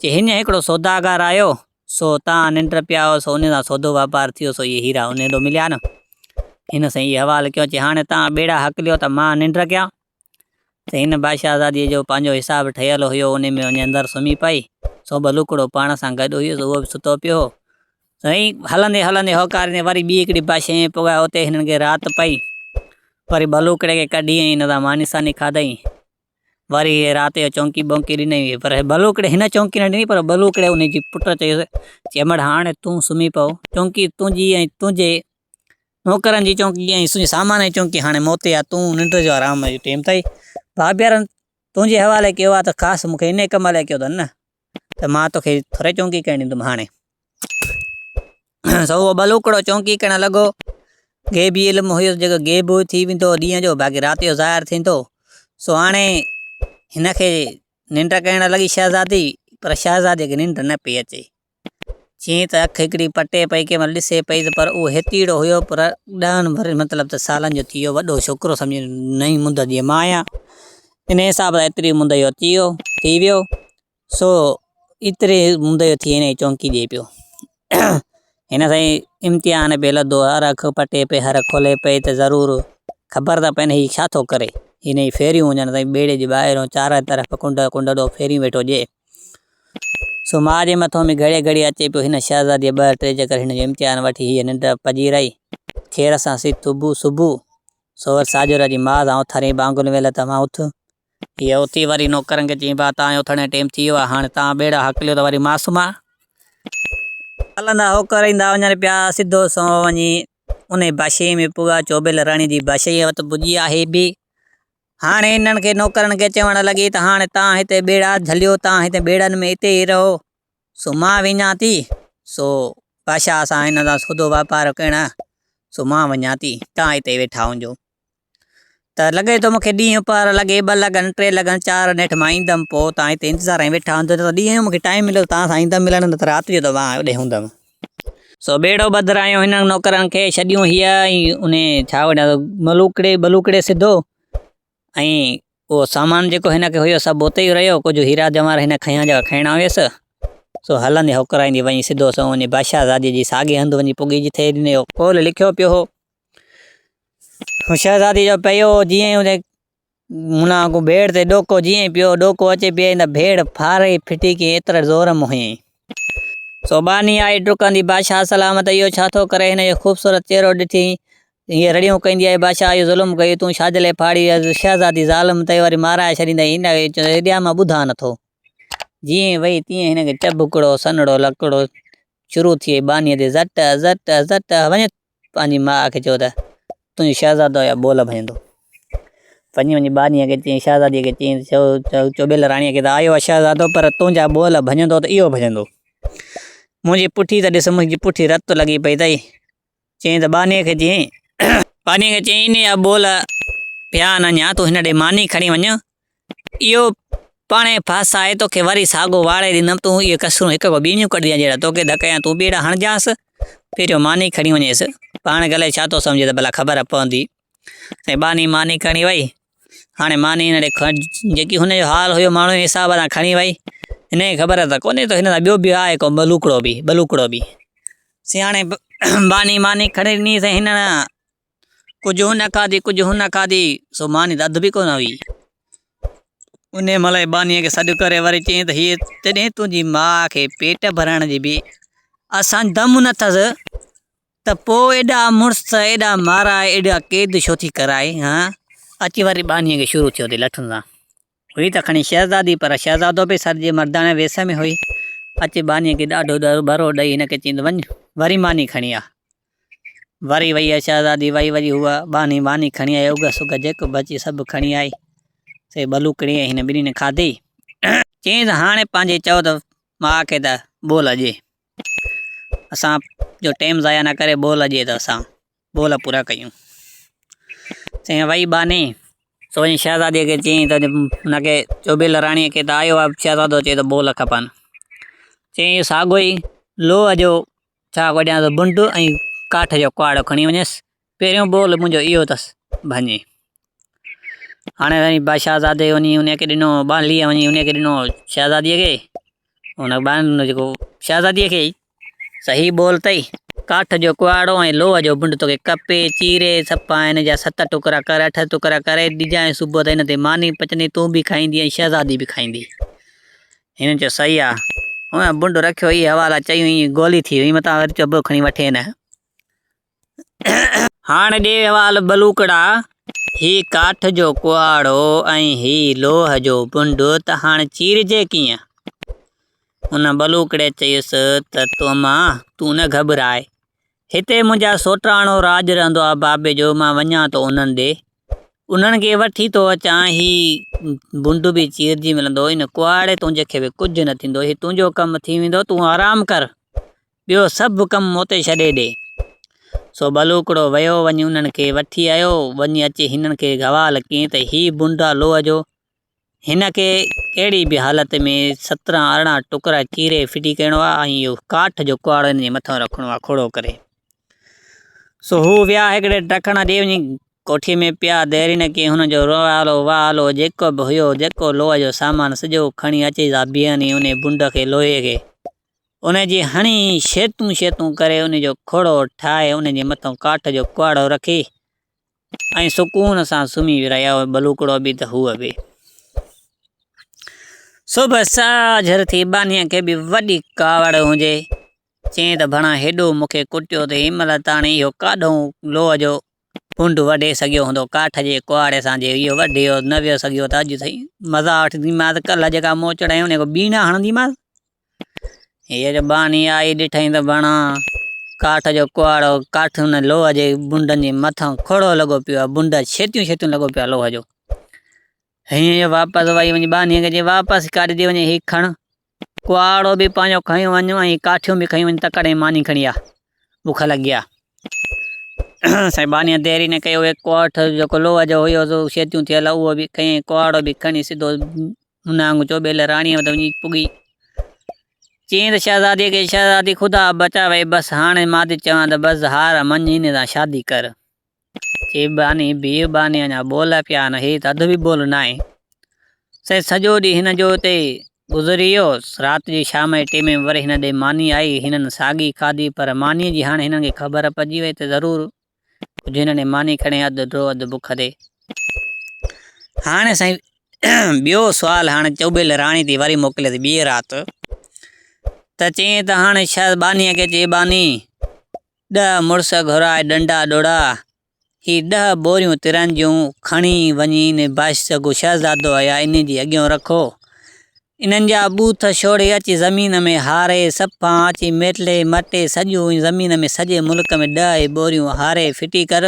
چي هينئن هڪڙو سوداگر آيو، سو اتان آن انٽر پيا آيو سو انهن سان سودو واپار ٿيو سو اهي هيرا انهن هيڏو مليا نه. هن سائين اهي حوال ڪيو چي هاڻي توهان ٻيڙا هڪليو ته مان آن انٽر ڪيان. سائين هن بادشاهزاديء جو پنهنجو حساب ٺهيل هيو انهي ۾ وڃي اندر سمهي پئي. سو به لوڪڙو پاڻ سان گڏ هيس اهو به ستو پيو هو. سائين هلندي هلندي هوڪاريندي وري ٻي هڪڙي بادشاهيء ۾ پڳا اتي هنن کي رات پئي. وري ٻه لوڪڙي کي ڪڍي ۽ هن سان ماني ساني کاڌئين. وري رات جو چونڪي بونڪي ڏنائين ويئي پر بلوڪڙي ھن چونڪي نھ ڏني پر بلوڪڙي ان جي پٽ چيس چي امڙ ھاڻ تون سمھي پئو چونڪي تنھنجي ۽ تنھنجي نوڪرن جي چونڪي ۽ تنھنجي سامان جي چونڪي ھاڻي مون تي آھي تون ننڊ جو آرام جو ٽيم اٿئي، ڀاڀيارن تنھنجي حوالي ڪيو آھي تھ خاص مون کي انھيء ڪم لاء ڪيو اٿن نھ؟ ته مان توکي ٿوري چونڪي ڪرڻ ڏيندم هاڻي. سو اهو ٻلوڪڙو چونڪي ڪرڻ لڳو. غيبي علم هيس جيڪو غيب ٿي ويندو هو ڏينهن جو باقي رات جو ظاهر ٿيندو. سو هاڻي هن کي ننڊ ڪرڻ لڳي شهزادي پر شهزاديء کي ننڊ نه پئي اچي. چيائين ته اک هڪڙي پٽي پئي ڪنهن مهل ڏسي پئي ته پر اهو هيتيڙو هيو پر ڏهن ورهين مطلب ته سالن جو ٿي ويو وڏو ڇوڪرو سمجهي نئين مند جي مان آهيان. انهيء حساب سان ايتري منديو اچي ويو، ٿي ويو، سو ايتري منديو ٿي هينئي چونڪي ڏي پيو. هن سائين امتحان پئي لڌو، هر اک پٽي پئي، هر کولي پئي ته ضرور خبر ته پئي نه هي ڇا ٿو ڪري. هينئي ڦيريون ڄڻ سائين ٻيڙي جي ٻاهريون چارئي طرف ڪنڊ ڪنڊڙو ڦيريون ويٺو ڏئي. سو ماء جي مٿو ۾ گهڙي گهڙي اچي پيو. هن شهزاديء ٻه ٽي چڪر هن جو امتحان وٺي هيء ننڊ پڄيرائي، خير سان سي صبح صبح سوئر ساڄورا جي ماء سان اوٿارين ٻانگن ويل ته مان اٿ. هيء اٿي وري نوڪرن کي چيائين، ڀاء تان اوٿڻ جو ٽيم ٿي ويو آهي، هاڻي تان ٻيڙا هاڪليو ته وري مان سمهان. هلندا هوڪر ايندا وڃن پيا، سڌو سنئون وڃي انهي باشيء ۾ پڳا، چوٻيل راڻي جي باشيء وٽ پڄي آ هي بي. هاڻي هنن کي نوڪرن کي چوڻ لڳي ته هاڻي تان هتي ٻيڙا جهليو، تان هتي ٻيڙن ۾ اتي ئي رهو. سو مان وڃان ٿي. سو بادشاهه اسان هن سان سودو واپار ڪيڻ سو مان وڃان ٿي توهان هتي ويٺا هجو. ته لڳي ٿو مون کي ڏينهن پر لڳي ٻه لڳن ٽي لڳن چار نيٺ مان ايندم پوء توهان هتي انتظار ۾ ويٺا هجو ته ڏينهن جو مون کي ٽائيم مليو ته توهان سان ايندم ملڻ نه ته رات جو ته مان اوڏي هوندم. سو ٻيڙو ٻڌرايو هنن نوڪرن کي ڇڏيون هيء ۽ انهي ڇا وڃان ٿو ملوڪڙي ٻلوڪڙي سڌو ۽ اهو سامان جيڪو هن کي هيو سڀ اتي ئي رهيو، ڪجهه هيرا جواهر هن کنيا جيڪا کڻڻا هيس، سو هلندي هوڪرائيندي وڃي سڌو سنئون وڃي بادشاهه زادي جي ساڳي هنڌ وڃي پڳي جتي هن اهو قول لکيو پيو هو. هن شهزادي جو پيو جيئن ئي اتي منا اڳو ڀيڙ تي ڏوڪو جيئن ئي پيو، ڏوڪو اچي پيئي ته ڀيڙ ڦاڙي ڦٽي ڪيئي ايتري زور م هيئي. سو ٻانهي آئي ڊڪندي بادشاهه سلامت اهو ڇا ٿو ڪري هن جو خوبصورت چهرو ڏٺي هيء رڙيون ڪندي آئي، بادشاهه اهو ظلم ڪيو، تون شاجلي ڦاڙي ويس، شهزادي ظالم تئي واري مارائي ڇڏيندين، هن کي چيو، هيڏيان مان ٻڌان نه ٿو. جيئن وئي تيئن هن کي چڀڪڙو، سنهڙو لڪڙو، شروع ٿي وئي، ٻانهيء تي زٽ، زٽ، زٽ، وڃي پنهنجي ماء کي چيو ته، تنهنجو شهزادو يا ٻول ڀڃندو. پنهنجي وڃي ٻانهيء کي چيائين، شهزاديء کي چيائين ته، چؤ، چؤٻيل راڻيء کي ته، آيو آهي شهزادو، پر تنهنجا ٻول ڀڃندو ته اهو ڀڃندو. منهنجي پٺي ته ڏس، منهنجي پٺي رت لڳي پئي اٿئي. چيائين ته ٻانهيء کي چيائين. ٻانهيء کي چيائين، انهيء جا ٻول پيا آن اڃا، تون هن ڏي ماني کڻي وڃ، اهو پاڻهي ڦس آهي، توکي وري ساڳو واڙي ڏيندم، تون اهي ڪسرون هڪ کان ٻيڻيون ڪڍجانء، جهڙا توکي ڌڪ هنيا، تون به اهڙا هڻجانس، پهريون ماني کڻي وڃيس، پاڻ کي الائي ڇا ٿو سمجهي ته ڀلا خبر پوندي. ٻانهي ماني کڻي وئي. هاڻي ماني هن ڏي کڻ، جيڪي هن جو حال هيو، ماڻهوء جي حساب سان کڻي ويئي. هن کي خبر ته ڪونهي ته هن سان ٻيو به آهي ڪو ٻلوڪڙو به، ٻلوڪڙو به. سياڻي ٻانهي ماني کڻي ڏني سين هن، ڪجهه هن کاڌي ڪجهه هن کاڌي، سو ماني ته اڌ به ڪونه هئي. انهيء مهل هن ٻانهيء کي سڏ ڪري وري چيائين ته هيء تڏهين تنهنجي ماء کي پيٽ ڀرڻ جي به اسان دم نه اٿس، ته پوء ايڏا مڙس ته ايڏا مارائي ايڏا قيد ڇو ٿي ڪرائي هان؟ اچي وري ٻانهيء کي شروع ٿيو ٿي لٺن سان. هئي ته کڻي شهزادي پر شهزادو به سر جي مرداڻي ويس ۾ هئي. اچي ٻانهيء کي ڏاڍو ڏرٻرو ڏئي هن کي چيائين ته وڃ وري ماني کڻي آ. وري وئي ها شهزادي وئي وري هوء ٻانهي ماني کڻي آئي اگهه سگهه جيڪو به اچي سڀ کڻي آئي سي ٻلوڪڙي ۽ هن ٻنهي کاڌي. چيائين ته هاڻي پنهنجي چئو ته ماء کي ته ٻول اڄي. اسان جو ٽيم ضايع نه ڪري ٻول اڄ ته اسان ٻول پورا ڪيون چيائين وئي ٻانهي سو وڃي شهزادي کي چيائين ته هن کي چوبل راڻي کي ته آيو آهي شهزادو چي ته ٻول کپن چيائين اهو ساڳو ئي لوهه جو ڇا ڪجان ٿو بنڊ ۽ ڪاٺ جو ڪهاڙو کڻي وڃيس پهريون ٻول منهنجو اهو اٿس ڀڃي. هاڻي سائين بادشاهزادي وڃي انهيء کي ڏنو، ٻانهليء وڃي انهيء کي ڏنو شهزاديء کي. ان ٻانهل جيڪو شهزاديء کي ئي صحيح ٻول اٿئي، ڪاٺ جو ڪهاڙو ۽ لوهه جو بنڊ توکي ڪپي، چيري، صفا هن جا ست ٽڪرا ڪر، اٺ ٽڪرا ڪري ڏجانء صبح تائين هن تي ماني پچندي، تون به کائيندي ۽ شهزادي به کائيندي. هن چيو صحيح آ. هن بنڊ رکيو، اهي حوالا چيون، ايئن گولي ٿي ويئي، متان وري چيو به کڻي وٺين. هاڻ ڏي وال ٻلوڪڙا، هي ڪاٺ جو ڪهاڙو ۽ هي لوهه جو بنڊ ته هاڻ چيرجي ڪيئن؟ ان ٻلوڪڙي چيس ته توما تون نه گهٻراء. هتي منهنجا سوٽراڻو راڄ رهندو آ بابي جو، مان وڃان ٿو انهن ڏي. انهن کي وٺي ٿو اچان، هي بنڊ به چيرجي ملندو، ان ڪهاڙي تنهنجي کي به ڪجهه نه ٿيندو، هي تنهنجو ڪم ٿي ويندو، تون آرام ڪر. ٻيو سڀ ڪم موتي ڇڏي ڏي. سو ٻلوڪڙو ويو وڃي انهن کي وٺي آيو، وڃي اچي هنن کي گوال ڪيئي ته هي بونڊا لوهه جو، هن کي ڪهڙي به حالت ۾ سترهن ارڙهن ٽڪرا چيري ڦٽي ڪرڻو آ ۽ اهو ڪاٺ جو ڪهاڙو هن جي مٿان رکڻو آ کوڙو ڪري. سو هو ويا هڪڙي ٽڪڻ ڏي وڃي ڪوٺي ۾ پيا ديرين ڪيئي هنن جو روئالو وئالو جيڪو به هيو جيڪو لوهه جو سامان سڄو کڻي اچي سا بيهن ۽ انهي بونڊ کي لوهي کي ان جي هڻي شيتون شيتون ڪري ان جو کوڙو ٺاهي ان جي مٿان ڪاٺ جو ڪهاڙو رکي ۽ سڪون سان سمهي رهيا هئا بلوڪڙو به ته هو به صبح ساجهر ٿي بانيء کي به وڏي ڪاوڙ هجي چيائين ته ڀڻا هيڏو مون کي ڪٽيو ته هن مهل تاڻي اهو ڪاڏهون لوهه جو ڀونڊ وڍي سگهيو هوندو ڪاٺ جي ڪهاڙي سان جي اهو وڍي هو نه ويو سگهيو ته اڄ سائين مزا وٺنديمانس ڪلهه جيڪا موچڙ هنيو انهيء کي ٻيڻا هڻنديمانس هيء جو ٻانهي آئي ڏٺائين ته بڻا ڪاٺ جو ڪهاڙو ڪاٺ ان لوهه جي بونڊن جي مٿان کوڙو لڳو پيو آهي بونڊ ڇيتيون ڇيتيون لڳو پيو آهي لوهه جو هينئن جو واپس وئي وڃي ٻانهي کي چئي واپس ڪاڍي ڏي وڃي هي کڻ ڪهاڙو به پاڻيو کنيو وڃ ۽ ڪاٺيون به کنيون وڃ، تڪڙ ۽ ماني کڻي آ، بک لڳي آ. سائين بانيء ديري نه ڪئي، اهو هڪ ڪاٺ جيڪو لوهه جو هيو سو شيتيون ٿيل هو، اهو به کنئي ۽ ڪهاڙو به کڻي سڌو هن آڱ چوٻيل راڻيء وٽ وڃي پڳي. چيائين ته شهزاديء کي، شهزادي خدا بچاوئي، بس هاڻ مان ٿي چوان ته بس هار مڃ هن سان شادي ڪر. چيباني، بيباني اڃا ٻول پيا آهن، هي ته اڌ به ٻول ناهي. سائين سڄو ڏينهن هن جو اتي گذري ويو، رات جي شام جي ٽيمي وري هن ڏي ماني آئي، هنن ساڳي کاڌي، پر مانيء جي هاڻي هنن کي خبر پئجي وئي ته ضرور ڪجهه هنن ڏي ماني کڻي اڌ ڊو اڌ بک تي. هاڻي سائين ٻيو سوال هاڻي چوٻيل راڻي تي وري موڪليس ٻيء رات ته چيائين ته هاڻي شايد بانيء کي چيباني، ڏهه مڙس گهرائي ڏنڊا ڏوڙها، هي ڏهه ٻوريون ترن جون کڻي وڃي ان بائيس سڳو شهزادو آيا انهي جي اڳيئون رکو. انهن جا ٻوٿ شوڙهي اچي زمين ۾ هاري، سپان اچي ميٽلي مٽي سڄو ائين زمين ۾ سڄي ملڪ ۾ ڏهه هي ٻوريون هاري ڦٽي ڪر.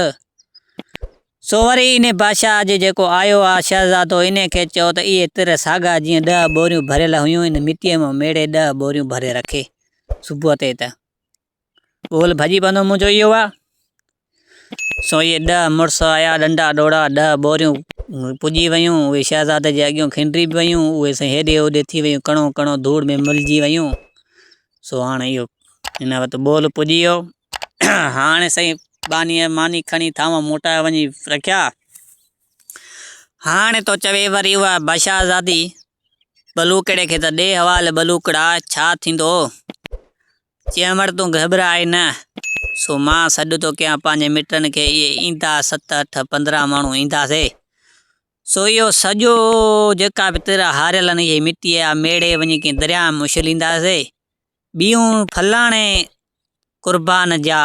سو وري انهي بادشاهه جي جيڪو آيو آ شهزادو انهي کي چئو ته اهي تر ساڳا جيئن ڏهه ٻوريون ڀريل هيون ان مٽيء مان ميڙي ڏهه ٻوريون ڀري رکي. صبح تي ته. ٻول ڀڄي پوندو منهنجو اهو آ، سوئي ڏهه مڙس آيا ڏنڊا ڏوڙا، ڏهه ٻوريون پڄي ويون، اهي شهزادي جي اڳيون کنڊري به ويون، اهي سائين هيڏي هوڏي ٿي ويون، ڪڻو ڪڻو ڌوڙ ۾ ملجي ويون، سو هاڻ اهو هن وقت ٻول پڄي ويو، هاڻ سائين ٻانهيء ماني کڻي ٿانو موٽائي وڃي رکيا، هاڻ تو چوي وري اها بشهزادي ٻلوڪڙي کي ته ڏي حوالي ٻلوڪڙا ڇا ٿيندو؟ چيم وڙ تون گهٻراء نه، سو مان سڏ ٿو ڪيان پنهنجي مٽن کي، اهي ايندا ست اٺ پندرهن ماڻهو اينداسي، سو اهو سڄو جيڪا به تر هاريل آهن اهي مٽي جا ميڙي وڃي ڪنهن درياء ۾ اڇلينداسي، ٻيون فلاڻي قربان جا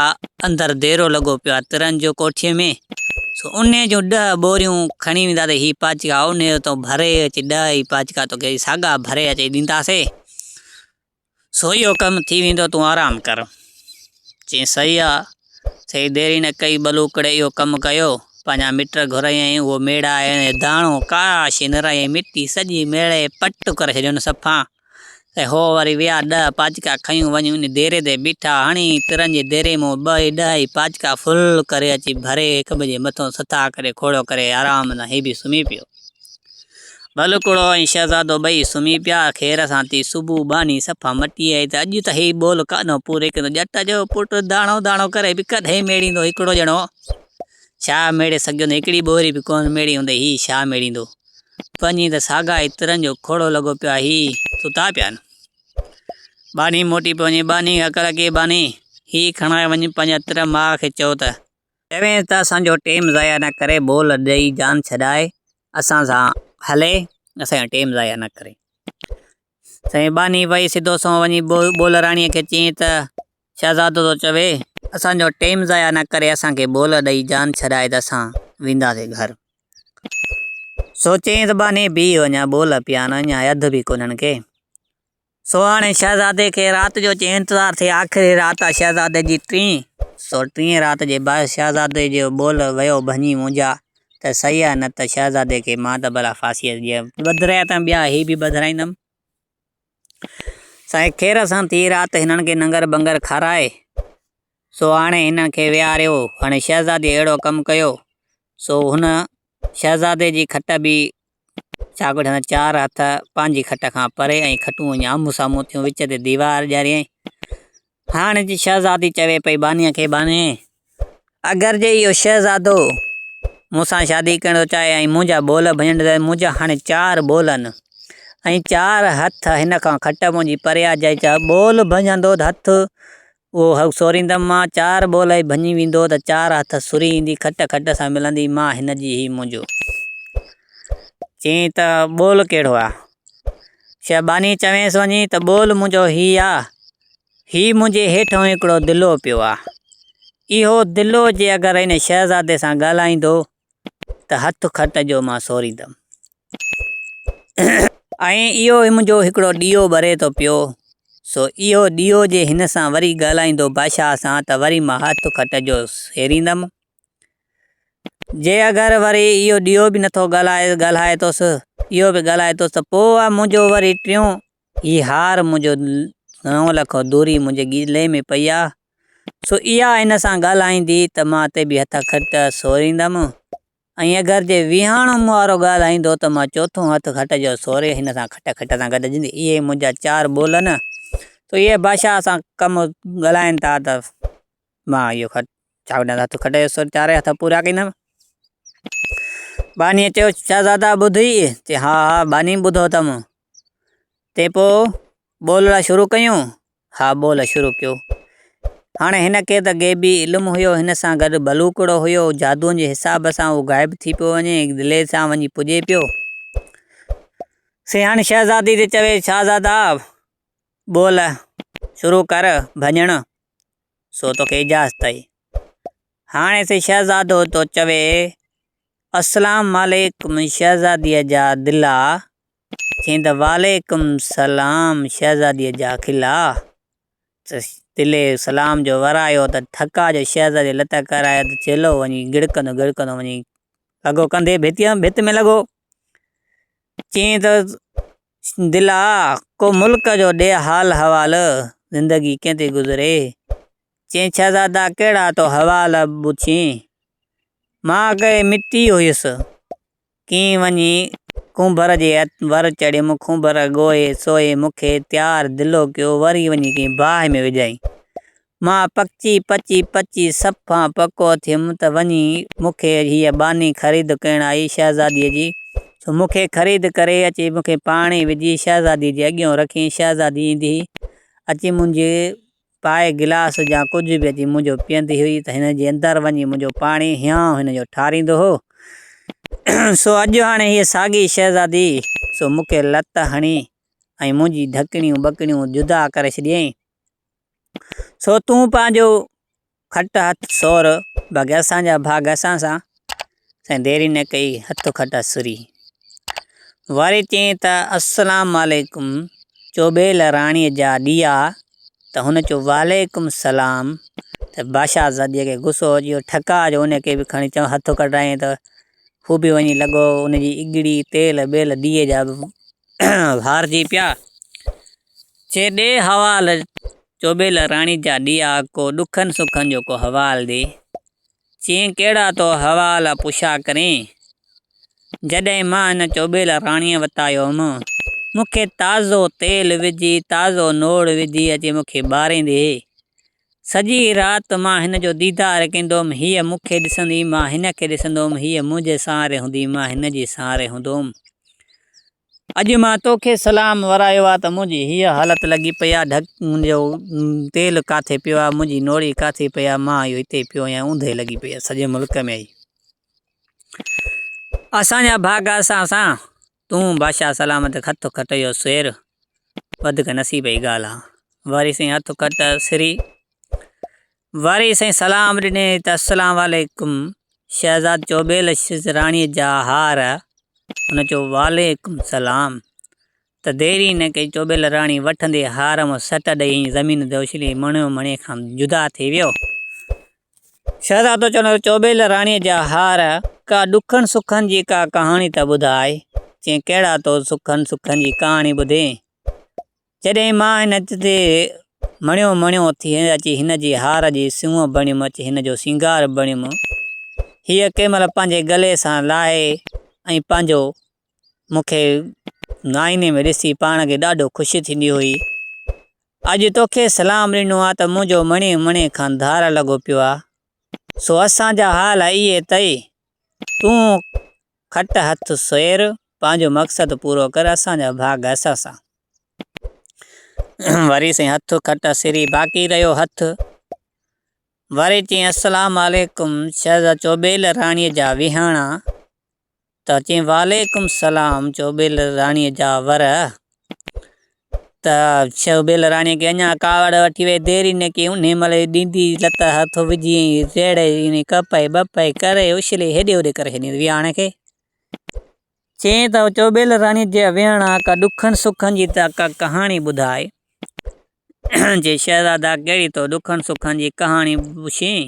اندر ديرو لڳو پيو آهي ترن جو ڪوٺي ۾، سو انهي جون ڏهه ٻوريون کڻي وينداسي، هي پاچڪا انهي جو تون ڀري اچ، ڏهه ئي پاچڪا توکي ساڳا ڀري اچي ڏينداسي، سو اهو ڪم ٿي ويندو تون آرام ڪر. چيائين صحيح آ. سائين ديري نه ڪئي ٻلوڪڙي اهو ڪم ڪيو. پنهنجا مٽ گهرايائين اهو ميڙا ۽ داڻو ڪاراشي نرايائين مٽي سڄي ميڙي پٽ ڪري ڇڏيون صفا ۽ هو وري ويا ڏهه پاچڪا کنيون وڃي ان ديري تي بيٺا هڻي ترن جي ديري مون ٻه ئي ڏهه ئي پاچڪا ڦل ڪري اچي ڀري هڪٻئي جي مٿو سٿا ڪري کوڙو ڪري آرام سان هي به سمهي پيو. ٻلڪڙو ۽ شهزادو ٻئي سمهي پيا. خير سان ٿي صبح ٻانهي صفا مٽي آئي ته اڄ ته هي ٻول ڪانه پوريڪندو. ڄٽ جو پٽ داڻو داڻو ڪري به ڪڏهن ميڙيندو هڪڙو ڄڻو شاهه ميڙي سگهيو نه. هڪڙي ٻوري به ڪونه ميڙي هوندئي هي شاهه ميڙيندو. پنهنجي ته ساڳا ئي ترن جو کوڙو لڳو پيو آهي هي ستا پيا آهن. ٻانهي موٽي پيو وڃي ٻانهي کي اڪل اچي ٻانهي هي کڻائي وڃ پنهنجا تر ماء کي چئو ته چوينس ته اسان جو ٽيم ضايع نه ڪري بول ڏئي جان ڇڏائي اسان سان هلي اسان جو ٽيم ضايع نه ڪري سائين باني پئي سڌو سنئون وڃي بولراڻيء کي چيائين ته شهزادو ٿو چوي اسان جو ٽيم ضايع نه ڪري اسان کي بول ڏئي جان ڇڏائي ته اسان وينداسي گهر سوچيائين ته باني بيهي وڃان بول پيان اڃا اڌ به ڪونهن کي سهاڻي شهزادي کي رات جو چئين انتظار ٿئي. آخري رات آ شهزادي جي ٽين سو ٽين رات جي باعث شهزادي جو ٻول ويو ڀڃي منهنجا ته سهي آ نه ته شهزادي کي مان ته ڀلا ڦاسيء جي ٻڌرايا ته ٻيا هي به ٻڌرائيندم سائين خير سان ٿي رات هنن کي ننگر بنگر کارائي سهاڻي هنن کي ويهاريو هاڻي شهزادي اهڙو ڪم ڪيو سو هن شهزادي جي کٽ به شاگرد هن چار هٿ پنهنجي کٽ کان پري ۽ کٽون ائين آمهون سامهون ٿيون، وچ تي ديوار ڄاريائين. هاڻ جي شهزادي چوي پئي بانيء کي، باني! اگر جي اهو شهزادو مون سان شادي ڪرڻ ٿو چاهي ۽ منهنجا ٻول ڀڃڻ ٿو چاهي، منهنجا هاڻي چار ٻول آهن ۽ چار هٿ هن کان کٽ منهنجي پري آهي، جي چار ٻول ڀڃندو ته هٿ اهو هئڪ سوريندم مان چار ٻول هي ڀڃي ويندو ته چار هٿ سري ايندي کٽ کٽ سان ملندي مان هن جي هي منهنجو. چيائين ته ٻول ڪهڙو آ؟ شيخ باني چويس وڃي ته ٻول منهنجو هي آ، هي منهنجي هيٺون هڪڙو دلو پيو آ، اهو دلو جي اگر هن شهزادي سان ڳالهائيندو ته هٿ کٽ جو مان سوريندم. ۽ اهو ئي منهنجو هڪڙو ڏيئو ٻري ٿو پيو، سو اهو ڏيئو جي هن سان وري ڳالهائيندو بادشاهه سان ته وري مان هٿ کٽ جو سيريندم. جي اگر وري اهو ڏيئو به نٿو ڳالهائي ٿوس، اهو به ڳالهائي ٿوس ته پوء منهنجو وري ٽيون هي هار منهنجو نو لک دوري منهنجي ڳلي ۾ پئي آ، سو اها هن سان ڳالهائيندي ته مان اتي به هٿ کٽ سوريندم ۽ اگر جي ويهاڻو مون وارو ڳالهائيندو ته مان چوٿون هٿ کٽ جو سوري هن سان کٽ کٽ سان گڏجندي. اهي منهنجا چار ٻول نه، سو اهي بادشاهه سان ڪم ڳالهائين ٿا ته مان اهو کٽ چاڪنڊ هٿ کٽ جو سوري چارئي هٿ پورا ڪندم. ٻانهيء چيو، شهزادا ٻڌئي؟ چي، ها ها باني ٻڌو اٿم. تي پوء ٻولڻ شروع ڪيون؟ ها ٻولڻ شروع ڪيو. هاڻي هن کي ته غيبي علم هيو، هن سان گڏ ڀلوڪڙو هيو، جادوء جي حساب سان هو غائب ٿي پيو وڃي، دلير سان وڃي پڄي پيو. سي هاڻي شهزادي تي چوي، شهزادا! ٻول شروع ڪر ڀڃڻ، سو توکي اجازت آهي. هاڻي سي شهزادو ٿو چوي، اسلام عليڪم شهزاديء جا دلا! چيائين ته وعليڪم سلام شهزاديء جا خلا ته دلي سلام جو ورايو ته ٿڪا جو شهزاديء لت ڪرايو ته چيلو وڃي گڙڪندو گڙڪندو وڃي لڳو ڪنڌي ڀت ۾ لڳو. چيائين ته دلا ڪو ملڪ جو ڏي حال حوال زندگي ڪئين ٿي گذري چيائين شهزادا ڪهڙا تو حوال پڇين مان اڳي مٽي هيس ڪين وڃي ڪنڀر جي ور چڙهيم، ڪنڀر ڳوهي سوهي مون کي تيار دلو ڪيو، وري وڃي ڪنهن باهه ۾ وجهيائين. مان پڪچي پچي پچي صفان پڪو ٿيم ته وڃي مون کي هيء ٻانهي خريد ڪرڻ آئي شهزاديء جي، سو مون کي خريد ڪري اچي مون کي پاڻي وجهي شهزاديء جي اڳيئون رکين، شهزادي ايندي اچي منهنجي پائي گلاس يا ڪجهه به اچي منهنجو پيئندي هئي ته هن جي اندر وڃي منهنجو پاڻي هيانء هن جو ٺاريندو هو. سو اڄ هاڻي هيء ساڳي شهزادي سو مون کي لت هڻي ۽ منهنجي ڍڪڻيون ٻڪڻيون جدا ڪري ڇڏيائين. سو تون پنهنجو کٽ هٿ سور باقي اسان جا ڀاڳ اسان سان. سائين ديري نه ڪئي هٿ کٽا سري. واري چيائين ته السلام عليڪم چوٻيل راڻيء جا ڏيئا ته هن چيو وعليڪم السلام ته بادشاهه زاديء کي غصو اچي ويو ٺڪاء جو ان کي به کڻي چڱو هٿ کٽايائين ته هو به وڃي لڳو ان جي اڳڙي تيل ٻيل ڏيئي جا به وارجي پيا چي ڏي حوال چوٻيل راڻي جا ڏيئا ڪو ڏکن سکن جو ڪو حوال ڏي. چيائين ڪهڙا تو حوال پڇا ڪرين. جڏهن مان ان چوٻيل راڻيء وٽ آيو هوم، مون کي تازو تيل وجهي، تازو نوڙ وجهي اچي مون کي ٻاريندي هئي. سڄي رات مان هن جو ديدار ڪيندو هوم، هيء مون کي ڏسندي، مان هن کي ڏسندو هوم، هيء منهنجي سهاري هوندي، مان هن جي سهاري هوندو هوم. اڄ مان توکي سلام ورايو آ ته منهنجي هيء حالت لڳي پئي آ ڍڪ منهنجو تيل ڪاٿي پيو آ منهنجي نوڙي ڪاٿي پئي آ مان اهو هتي پيو آهيان اوندهي لڳي پئي آ سڄي ملڪ ۾ اهي اسان جا ڀاڳ اسان سان تون بادشاهه سلامت هٿ کٽ جو سير وڌڪ نصيب جي ڳالهه آ واري سائين هٿ کٽ سري وري سائين سلام ڏني ته السلام عليڪم شهزاد چيو ٻيل اشرس راڻيء جا هار هن چيو وعليڪم سلام ته دير ئي نه ڪئي چوٻيل راڻي وٺندي هار ۾ سٽ ڏئي ۽ زمين تي اڇلي مڻيو مڻي کان جدا ٿي ويو شهزاد تو چون چوٻيل راڻيء جا هار ڪا ڏکن سکن جي ڪا ڪهاڻي ته ٻڌاء چين ڪهڙا تو سکن سکن جي ڪهاڻي ٻڌين جڏهن مان هن هٿ تي مڻيو مڻيو اٿي اچي هن جي هار جي سونهن بڻيم، اچي هن جو سينگار بڻيم. هيء ڪنهن مهل پنهنجي ڳلي سان لاهي ۽ پنهنجو مون کي نائيني ۾ ڏسي پاڻ کي ڏاڍو خوشي ٿيندي هئي. اڄ توکي سلام ڏنو آ ته منهنجو مڻي مڻي کان ڌار لڳو پيو آ. سو اسان جا حال اهي تئي تون کٽ هٿ سوير، پنهنجو مقصد پورو ڪر، اسان جا ڀاڳ اسان سان. وري سائين هٿ کٽ اسيري باقي رهيو هٿ. وري چين السلام عليڪم شهزاد چوبيل راڻي جا ويهاڻا ته چين وعليڪم السلام چوبيل راڻي جا ور. ته شو بيل راڻيء کي اڃا ڪاوڙ وٺي ويئي. ديري نه ڪيئي. انهيء مهل ئي ڏيندي لت هٿ وجهي ۽ ريڙهه ۽ ڪپهي ٻپهي ڪري اڇلي هيڏي هوڏي ڪري ڇڏيائين ويهاڻ کي. چيائين ته شو بيل راڻيء جي ويهاڻ ڪا ڏکن سکن جي ته ڪا ڪهاڻي ٻڌاء. چيائين شهزادا! ڪهڙي تو ڏکن سکن جي ڪهاڻي پڇين؟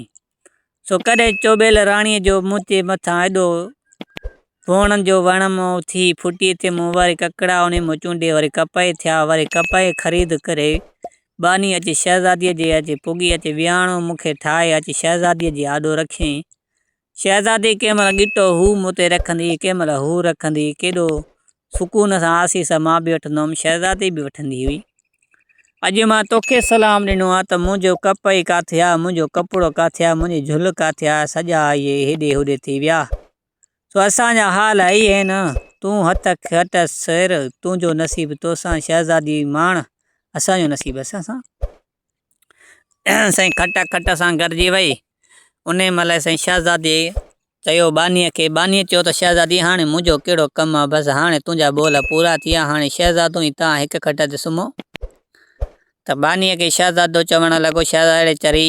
سو ڪڏهن چوٻيل راڻيء جو منهنجي مٿان ايڏو ڀونئڻ جو وڻ مئو ٿي ڦٽي ته مون وري ڪڪڙا اونهي مان چونڊي وري ڪپهه ٿيا وري ڪپهه خريد ڪري ٻانهي اچي شهزاديء جي اچي پڳي اچي ويهاڻو مون کي ٺاهي اچي شهزاديء جي آڏو رکيائين. شهزادي ڪنهن مهل ڳٽو هو مون تي رکندي ڪنهن مهل هو رکندي ڪيڏو سڪون سان آسيس مان به وٺندو هوم، شهزادي به وٺندي هئي. اڄ مان توکي سلام ڏنو آ ته منهنجو ڪپهئي ڪاٿي آ، منهنجو ڪپڙو ڪاٿي آ، منهنجي جهل ڪاٿي آ، سڄا اهي هيڏي هوڏي ٿي ويا. سو اسان جا حال اهي ئي آهن. تون هت کٽ سير، تنهنجو نصيب توسان، شهزادي ماڻ، اسان جو نصيب اسان سان. سائين کٽ کٽ سان گڏجي ويئي، انهيء مهل سائين شهزاديء چيو ٻانهيء کي، ٻانهيء چيو ته شهزادي هاڻي منهنجو ڪهڙو ڪم آ، بس هاڻي تنهنجا ٻول پورا ٿي ويا، هاڻي شهزادو ۽ توهان هڪ کٽ تي سمهو. ته ٻانهيء کي شهزادو چوڻ لڳو، شهزادڙي چري،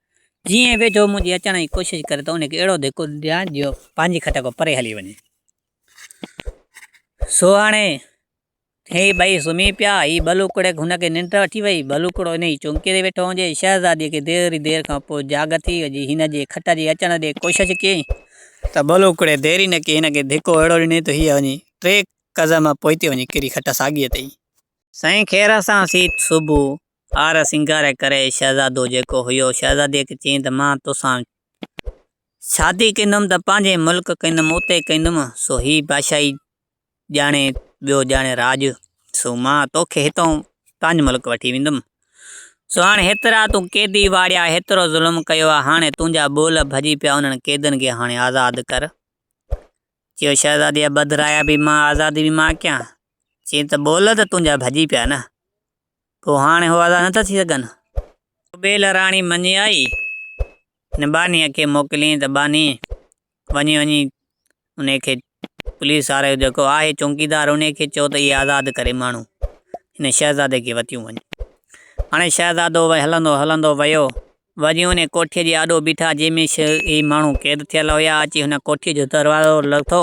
جيئن ويجهو منهنجي اچڻ جي ڪوشش ڪري ته ان کي اهڙو ڌڪ ڏيان جو پنهنجي کٽ کان پري هلي وڃي. سو هاڻي هي ٻئي سمهي پيا. هي ٻلوڪڙي هن کي ننڊ وٺي وئي. ٻلوڪڙو انهيء چونڪي تي ويٺو هجي. شهزاديء کي دير ئي دير کان پوء جاڳ ٿي. جي هن جي کٽ جي اچڻ جي ڪوشش ڪيئي، ته ٻلوڪڙي دير ئي نه ڪئي هن کي ڌڪو اهڙو ڏني ته هيء وڃي ٽي قزم پوئتي وڃي ڪري کٽ ساڳيء تي ئي. سائين خير سان سيت صبح هار سينگار ڪري شهزادو جيڪو هيو، شهزاديء کي چيائين ته مان تو سان شادي ڪندم ته پنهنجي ملڪ ڪندم، اتي ڪندم، سو هي بادشاهي ڄاڻي، ٻيو ڄاڻي راڄ، سو مان توکي هتئون پنهنجي ملڪ وٺي ويندم. سو هاڻي هيترا تون قيدي واڙيا، هيترو ظلم ڪيو آ، هاڻي تنهنجا ٻول ڀڄي پيا، انهن قيدين کي هاڻي آزاد ڪر. چيو شهزاديء بدرايا به مان آزادي به مان ڪيان. چيائين ته ٻول ته تنهنجا ڀڄي پيا نه. پوء هاڻي هو آزاد نٿا ٿي سگهن. ڪبيل راڻي مڃي آئي ۽ ٻانهيء کي موڪليائين ته ٻانهي وڃي وڃي ان کي پوليس وارو جيڪو آهي چونڪيدار ان کي چئو ته اهي آزاد ڪري ماڻهو هن شهزادي کي وتيون وڃن. هاڻي شهزادو هلندو هلندو ويو وڃي انهيء ڪوٺيء جي آڏو بيٺا، جنهن ۾ شيعي ماڻهو قيد ٿيل هيا. اچي هن ڪوٺيء جو دروازو لٿو.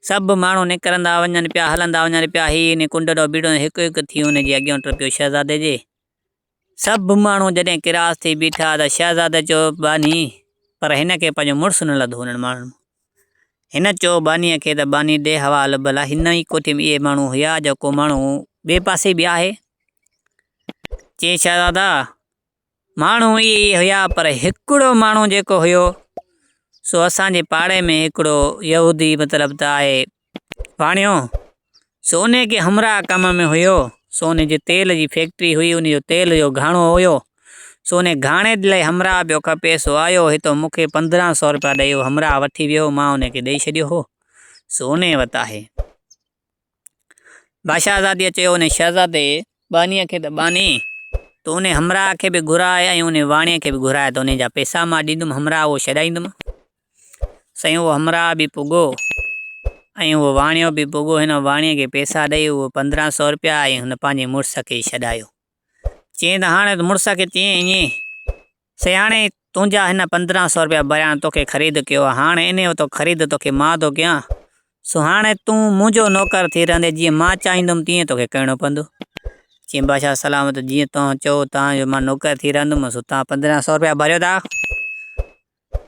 سڀ ماڻهو نڪرندا وڃن پيا، هلندا وڃن پيا. هيء انهيء ڪنڊ ڏانهن بيٺو ۽ هڪ هڪ ٿي ان جي اڳيان ٽپيو. شهزادي جي سڀ ماڻهو جڏهن ڪراس ٿي بيٺا ته شهزادي چيو، باني! پر هن کي پنهنجو مڙس نه لڌو انهن ماڻهن مان. هن چيو بانيء کي ته باني ڏي حوالو ڀلا هن ئي ڪوٺيء ۾ اهي ماڻهو هيا، جيڪو ماڻهو ٻئي پاسي به آهي. چيائين، شهزادا! ماڻهو اهي ئي هيا پر هڪڙو ماڻهو جيڪو هيو سو اسان جي پاڙي ۾ هڪڙو يهودي مطلب ته آهي واڻيو سو ان کي همراهه ڪم ۾ هيو سو ان جي تيل جي فيڪٽري هئي ان جو تيل جو گهاڻو هيو سو ان گهاڻي لاء همراهه پيو کپي سو آيو هتو مون کي پندرهن سو روپيا ڏيئو همراهه وٺي ويو مان ان کي ڏيئي ڇڏيو هو سو ان وٽ آهي باشهزاديء چيو، انهيء شهزادي ٻانهيء کي ته ٻانهي، تون انهيء همراهه کي به گهراء ۽ انهيء واڻيء کي به گهراء ته انهيء جا پيسا مان ڏيندم، همراهه اهو ڇڏائيندم. سائين اهو همراهه به پڳو ۽ اهو واڻيو به پڳو. هن واڻيء کي پيسا ڏيئي اهي پندرهن سؤ رپيا ۽ هن پنهنجي مڙس کي ڇڏايو. چيائين ته هاڻ مڙس کي چيائين، سياڻي، تنهنجا هن پندرهن سؤ رپيا ڀريان توکي خريد ڪيو آهي، هاڻ انهيء وتو خريد توکي مان ٿو ڪيان، سو هاڻ تون منهنجو نوڪر ٿي رهندين، جيئن مان چاهيندم تيئن توکي ڪرڻو پوندو. چيائين، بادشاهه سلام اٿو، جيئن توهان چئو، توهان جو مان نوڪر ٿي رهندم، سو توهان پندرهن سؤ رپيا ڀريو ٿا.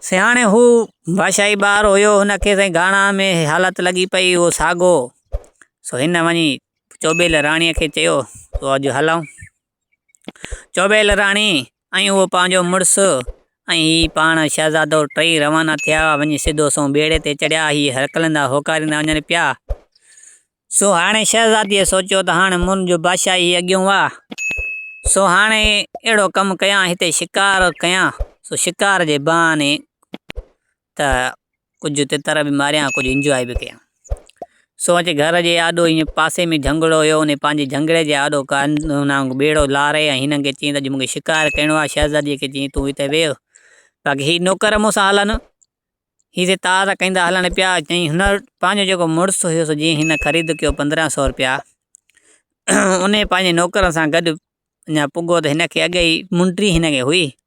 سياڻي، هو بادشاهي ٻار هيو، هن کي سائين گهاڻا ۾ هيء حالت لڳي پئي، هو ساڳو، سو هن وڃي چوٻيل راڻيء کي چيو، سو اڄ هلئون. چوبيل راڻي ۽ اهو پنهنجو مڙس ۽ هي پاڻ شهزادو ٽئي روانا ٿيا وڃي سڌو سنئون ٻيڙي تي چڙهيا. هي هرکلندا هوڪاريندا وڃن پيا. سو هاڻي شهزاديء سوچيو ته هاڻي منهنجو بادشاهي اڳيون واء. سو هاڻي اهڙو ڪم ڪيان هتي شڪار ڪيان. سو شڪار جي بهاني ته ڪجهه تتر به ماريا ۽ ڪجهه انجواء به ڪيا. سو اچي گهر جي آڏو ايئن پاسي ۾ جهنگڙو هيو، انهي پنهنجي جهنگڙي جي آڏو ڪانڌو ٻيڙو لاري ۽ هنن کي چيائين ته اڄ مون کي شڪار ڪرڻو آهي. شهزاديء کي چيائين ته تون هتي ويهه، باقي هي نوڪر مون سان هلن، هي هتي تار ڪيندا هلڻ پيا. چيائين هن وٽ پنهنجو جيڪو مڙس هيو سو جنهن هن خريد ڪيو پندرهن سؤ رپيا، انهي پنهنجي نوڪرن سان گڏ اڃا پڳو ته هن کي اڳيئي منڊي هن کي هئي.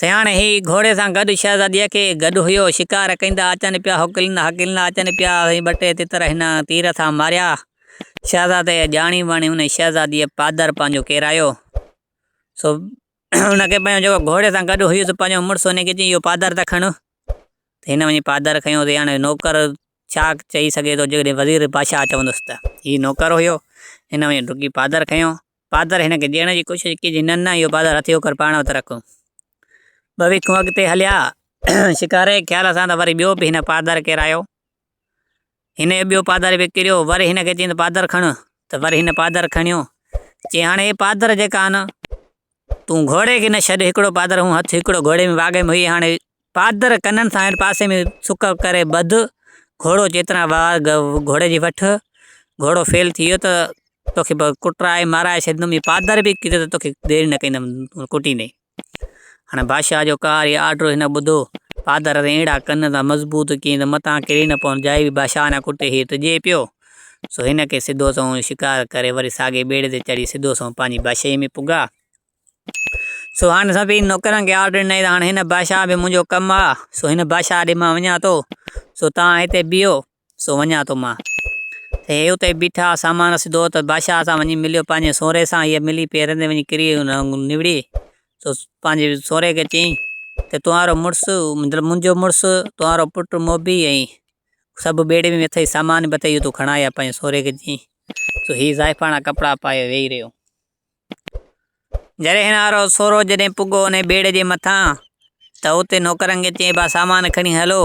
سياڻي هي گهوڙي سان گڏ شهزاديء کي گڏ هيو. شڪار ڪيندا اچن پيا، هڪليندا هڪليندا اچن پيا. سائين ٻه ٽي تتر هن تير سان ماريا. شهزادي ڄاڻي واڻي ان شهزاديء پادر پنهنجو ڪيرايو. سو ان کي پنهنجو جيڪو گهوڙي سان گڏ هيس پنهنجو مڙس ان کي چيائين اهو پادر ته کڻ. هن وڃي پادر کنيو ته هاڻي نوڪر ڇا چئي سگهي ٿو جيڪڏهن وزير بادشاهه چوندس ته. هي نوڪر هيو، هن وڃي ڊڪي پادر کنيو. پادر هن کي ڏيڻ جي ڪوشش ڪئي جي ننه اهو پادر هٿي هوڪر پاڻ وٽ رک. ٻه ويڪون اڳتي هليا. شڪاري جي خيال سان ته وري ٻيو به هن پادر ڪيرايو. هن اهو ٻيو پادر به ڪيريو. وري هن کي چيائين ته پادر کڻ ته وري هن پادر کڻيو. چيائين هاڻي هي پادر جيڪا آهن تون گهوڙي کي نه ڇڏ هڪڙو پادر هون هٿ هڪڙو گهوڙي ۾ واڳ ۾ هئي هاڻي پادر ڪنن سان هيٺ پاسي ۾ سڪ ڪري ٻڌ، گهوڙو چيتران وار گهوڙي جي وٺ، گهوڙو فيل ٿي ويو ته توکي ڪٽرائي مارائي ڇڏيندم، اي پادر به ڪيڌو ته توکي دير نه ڪندم تون ڪٽي ڏي. هاڻي بادشاهه جو ڪار اي آرڊر هن ٻڌو، پادر تي اهڙا ڪن ته مضبوط ڪيئي ته متان ڪري نه پون، جاء به بادشاهه نه ڪٽي هي ٽڄي پيو، سو هن کي سڌو سنئون شڪار ڪري وري ساڳي ٻيڙي تي چڙهي سڌو سنئون پنهنجي بادشاهيء ۾ پڳا. سو هاڻ سڀيئي نوڪرن کي آرڊر ڏنائين ته هاڻ هن بادشاهه به منهنجو ڪم آ، سو هن بادشاهه ڏي مان وڃان ٿو، سو توهان هتي بيهو، سو وڃان ٿو مان. ته هي اتي بيٺا، سامان سڌو ته بادشاهه سان وڃي مليو پنهنجي سونهري سان، هيء ملي پيرن تي وڃي ڪري نوڙي، سو پنهنجي سونهري کي چيائين ته توهانرو مڙس، مطلب منهنجو مڙس، توهانرو پٽ موڀي ۽ سڀ ٻيڙي ۾ اٿئي، سامان به اٿئي، اهو تون کڻائي آ، پنهنجي سونهري کي چيائين، سو هي زائفاڻا ڪپڙا پائي ويهي رهيو. جريهنارو سورو جڏهن پڳو انهيء بيڙي جي مٿان ته اتي نوڪرن کي چيائين، ڀا سامان کڻي هلو،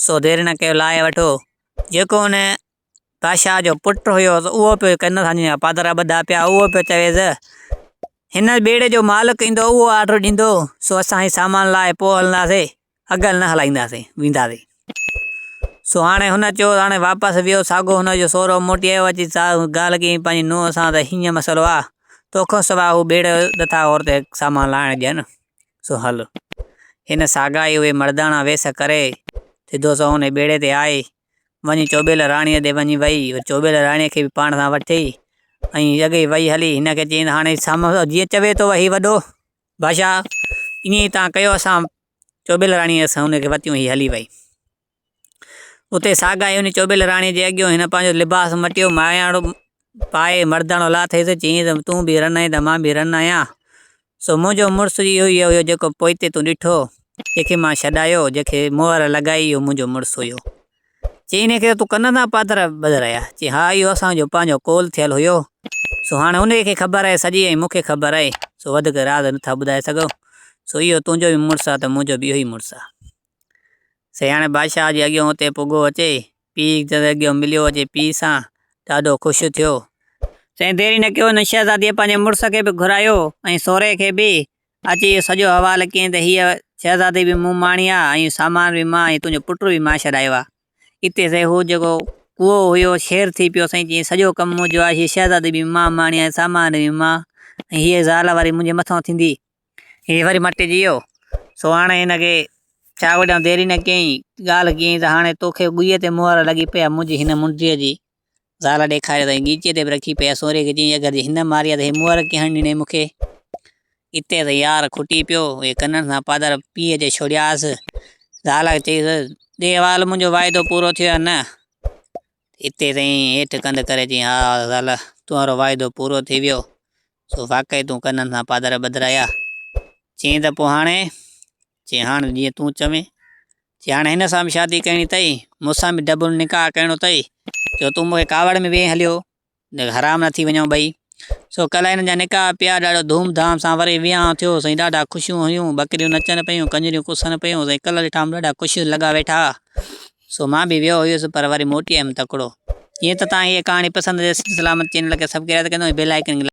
سو دير نه ڪيو لائي وٺو. جيڪو ان بادشاهه جو پٽ هيو سو اهو پيو ڪن سان جيئن پادرا ٻڌا پيا هئا، اهو پيو چويس، هن بيڙي جو مالڪ ايندو اهو آرڊر ڏيندو، سو اسان هي سامان لائي پوء هلنداسين. اگهه نه هلائينداسين، وينداسين. سو هاڻي هن چيو، هاڻي واپس ويو، ساڳو هن جو سهرو موٽي آيو، اچي ڳالهه ڪيائين پنهنجي نونهن سان ته هيئن مسئلو آ، تو کان سواء هو ٻيڙيء جو نٿا عورت کي سامان لاهڻ ڏين، سو هل. هن ساڳا ئي اهي مڙداڻا ويس ڪري، سڌو سنئون انهي ٻيڙي تي آئي، وڃي چوٻيل راڻيء ڏي وڃي ويئي، وري چوٻيل راڻيء کي به پاڻ سان وٺي، ۽ اڳي ئي ويئي هلي، هن کي چيائين ته هاڻي سامهون جيئن چوي تو وهي وڏو! بادشاھ، ائين ئي تان ڪيو اسان چوٻيل راڻيء سان ان کي وتيون هي هلي وئي. اتي ساگائي ان چوٻيل راڻيء جي اڳيون هن پنهنجو لباس مٽيو ماياڻو پائي مرداڻو لاٿئي ته چيائين ته تون به رن آهين ته مان به رن آهيان. سو منهنجو مڙس اهو ئي هيو جيڪو پوئتي تون ڏٺو، جنهن کي مان ڇڏايو، جنهن کي مهر لڳائي اهو منهنجو مڙس هيو. چيائين انهيء کي تون ڪن تان پاتر ٻڌ رهي آهين؟ چيائين ها اهو اسان جو پنهنجو قول ٿيل هيو، سو هاڻي انهيء کي خبر آهي سڄي ۽ مون کي خبر آهي، سو وڌيڪ راز نه ٿا ٻڌائي سگهون، سو اهو تنهنجو به مڙس آهي ته منهنجو به اهو ئي مڙس آهي. سي هاڻي بادشاهه جي اڳيئون اتي پڳو اچي، پيء جي اڳيئون مليو اچي پيء سان، ڏاڍو خوش ٿيو. سي ديري نه ڪيو، هن شهزاديء پنهنجي مڙس کي به گهرايو ۽ سورهيه کي به، اچ اهو سڄو حوال ڪين ته هيء شهزادي به مون ماڻي آ ۽ سامان به مان ۽ تنهنجو پٽ به مان ڇڏايو آ. اتي سائين هو جيڪو ڪوئو هيو شير ٿي پيو سائين چيائين سڄو ڪم مون جو آ هيء شهزادي به مان ماڻي آ ۽ سامان به مان ۽ هيء زال وري منهنجي مٿان ٿيندي. هيء وري مٽجي ويو سو هاڻي هن کي ڇا وڍيان ديري نه ڪيائين ڳالهه ڪيائين ته هاڻي توکي ڳوئي تي مهر لڳي پئي آ منهنجي هن منڊيء جي زال ڏيکاريو ته ڳيچيء تي به رکي پئي. سوريء کي چيائين، اگر جي هن ماري ها ته هي مهر ڪيئن هڻڻ ڏنئي مون کي؟ اتي ته يار کٽي پيو. اهي ڪنن سان پادر پيئي اچي ڇوڙيائس. زال چيس، ڏي وال منهنجو واعدو پورو ٿيو يا نه؟ اتي سائين هيٺ ڪنڌ ڪري چيائين، ها زال، تنهنجو واعدو پورو ٿي ويو. سو واقعي تون ڪنن سان پادر ٻڌرايا. چيائين ته پوء هاڻي؟ چي هاڻ جيئن تون چوين. چي هاڻ هن سان به شادي ڪرڻي اٿئي، مون سان به ڊبل نڪاح ڪرڻو اٿئي، جو تون مون کي ڪاوڙ ۾ ويهي هليو، جو حرام نه ٿي وڃون ٻئي. سو ڪلهه هنن جا نڪاح پيا، ڏاڍو ڌوم ڌام سان وري ويهانء ٿيو، سائين ڏاڍا خوشيون هيون، ٻڪريون نچن پيون، ڪنجريون ڪسن پيون، سائين ڪلهه ڏٺائم ڏاڍا خوش لڳا ويٺا، سو مان به ويو هيس، پر وري موٽي آيم تڪڙو. جيئن ته توهان کي اهي ڪهاڻي پسند اچي ته سلامت چينل کي سبڪرائب ڪري ۽ بيل آئيڪن کي.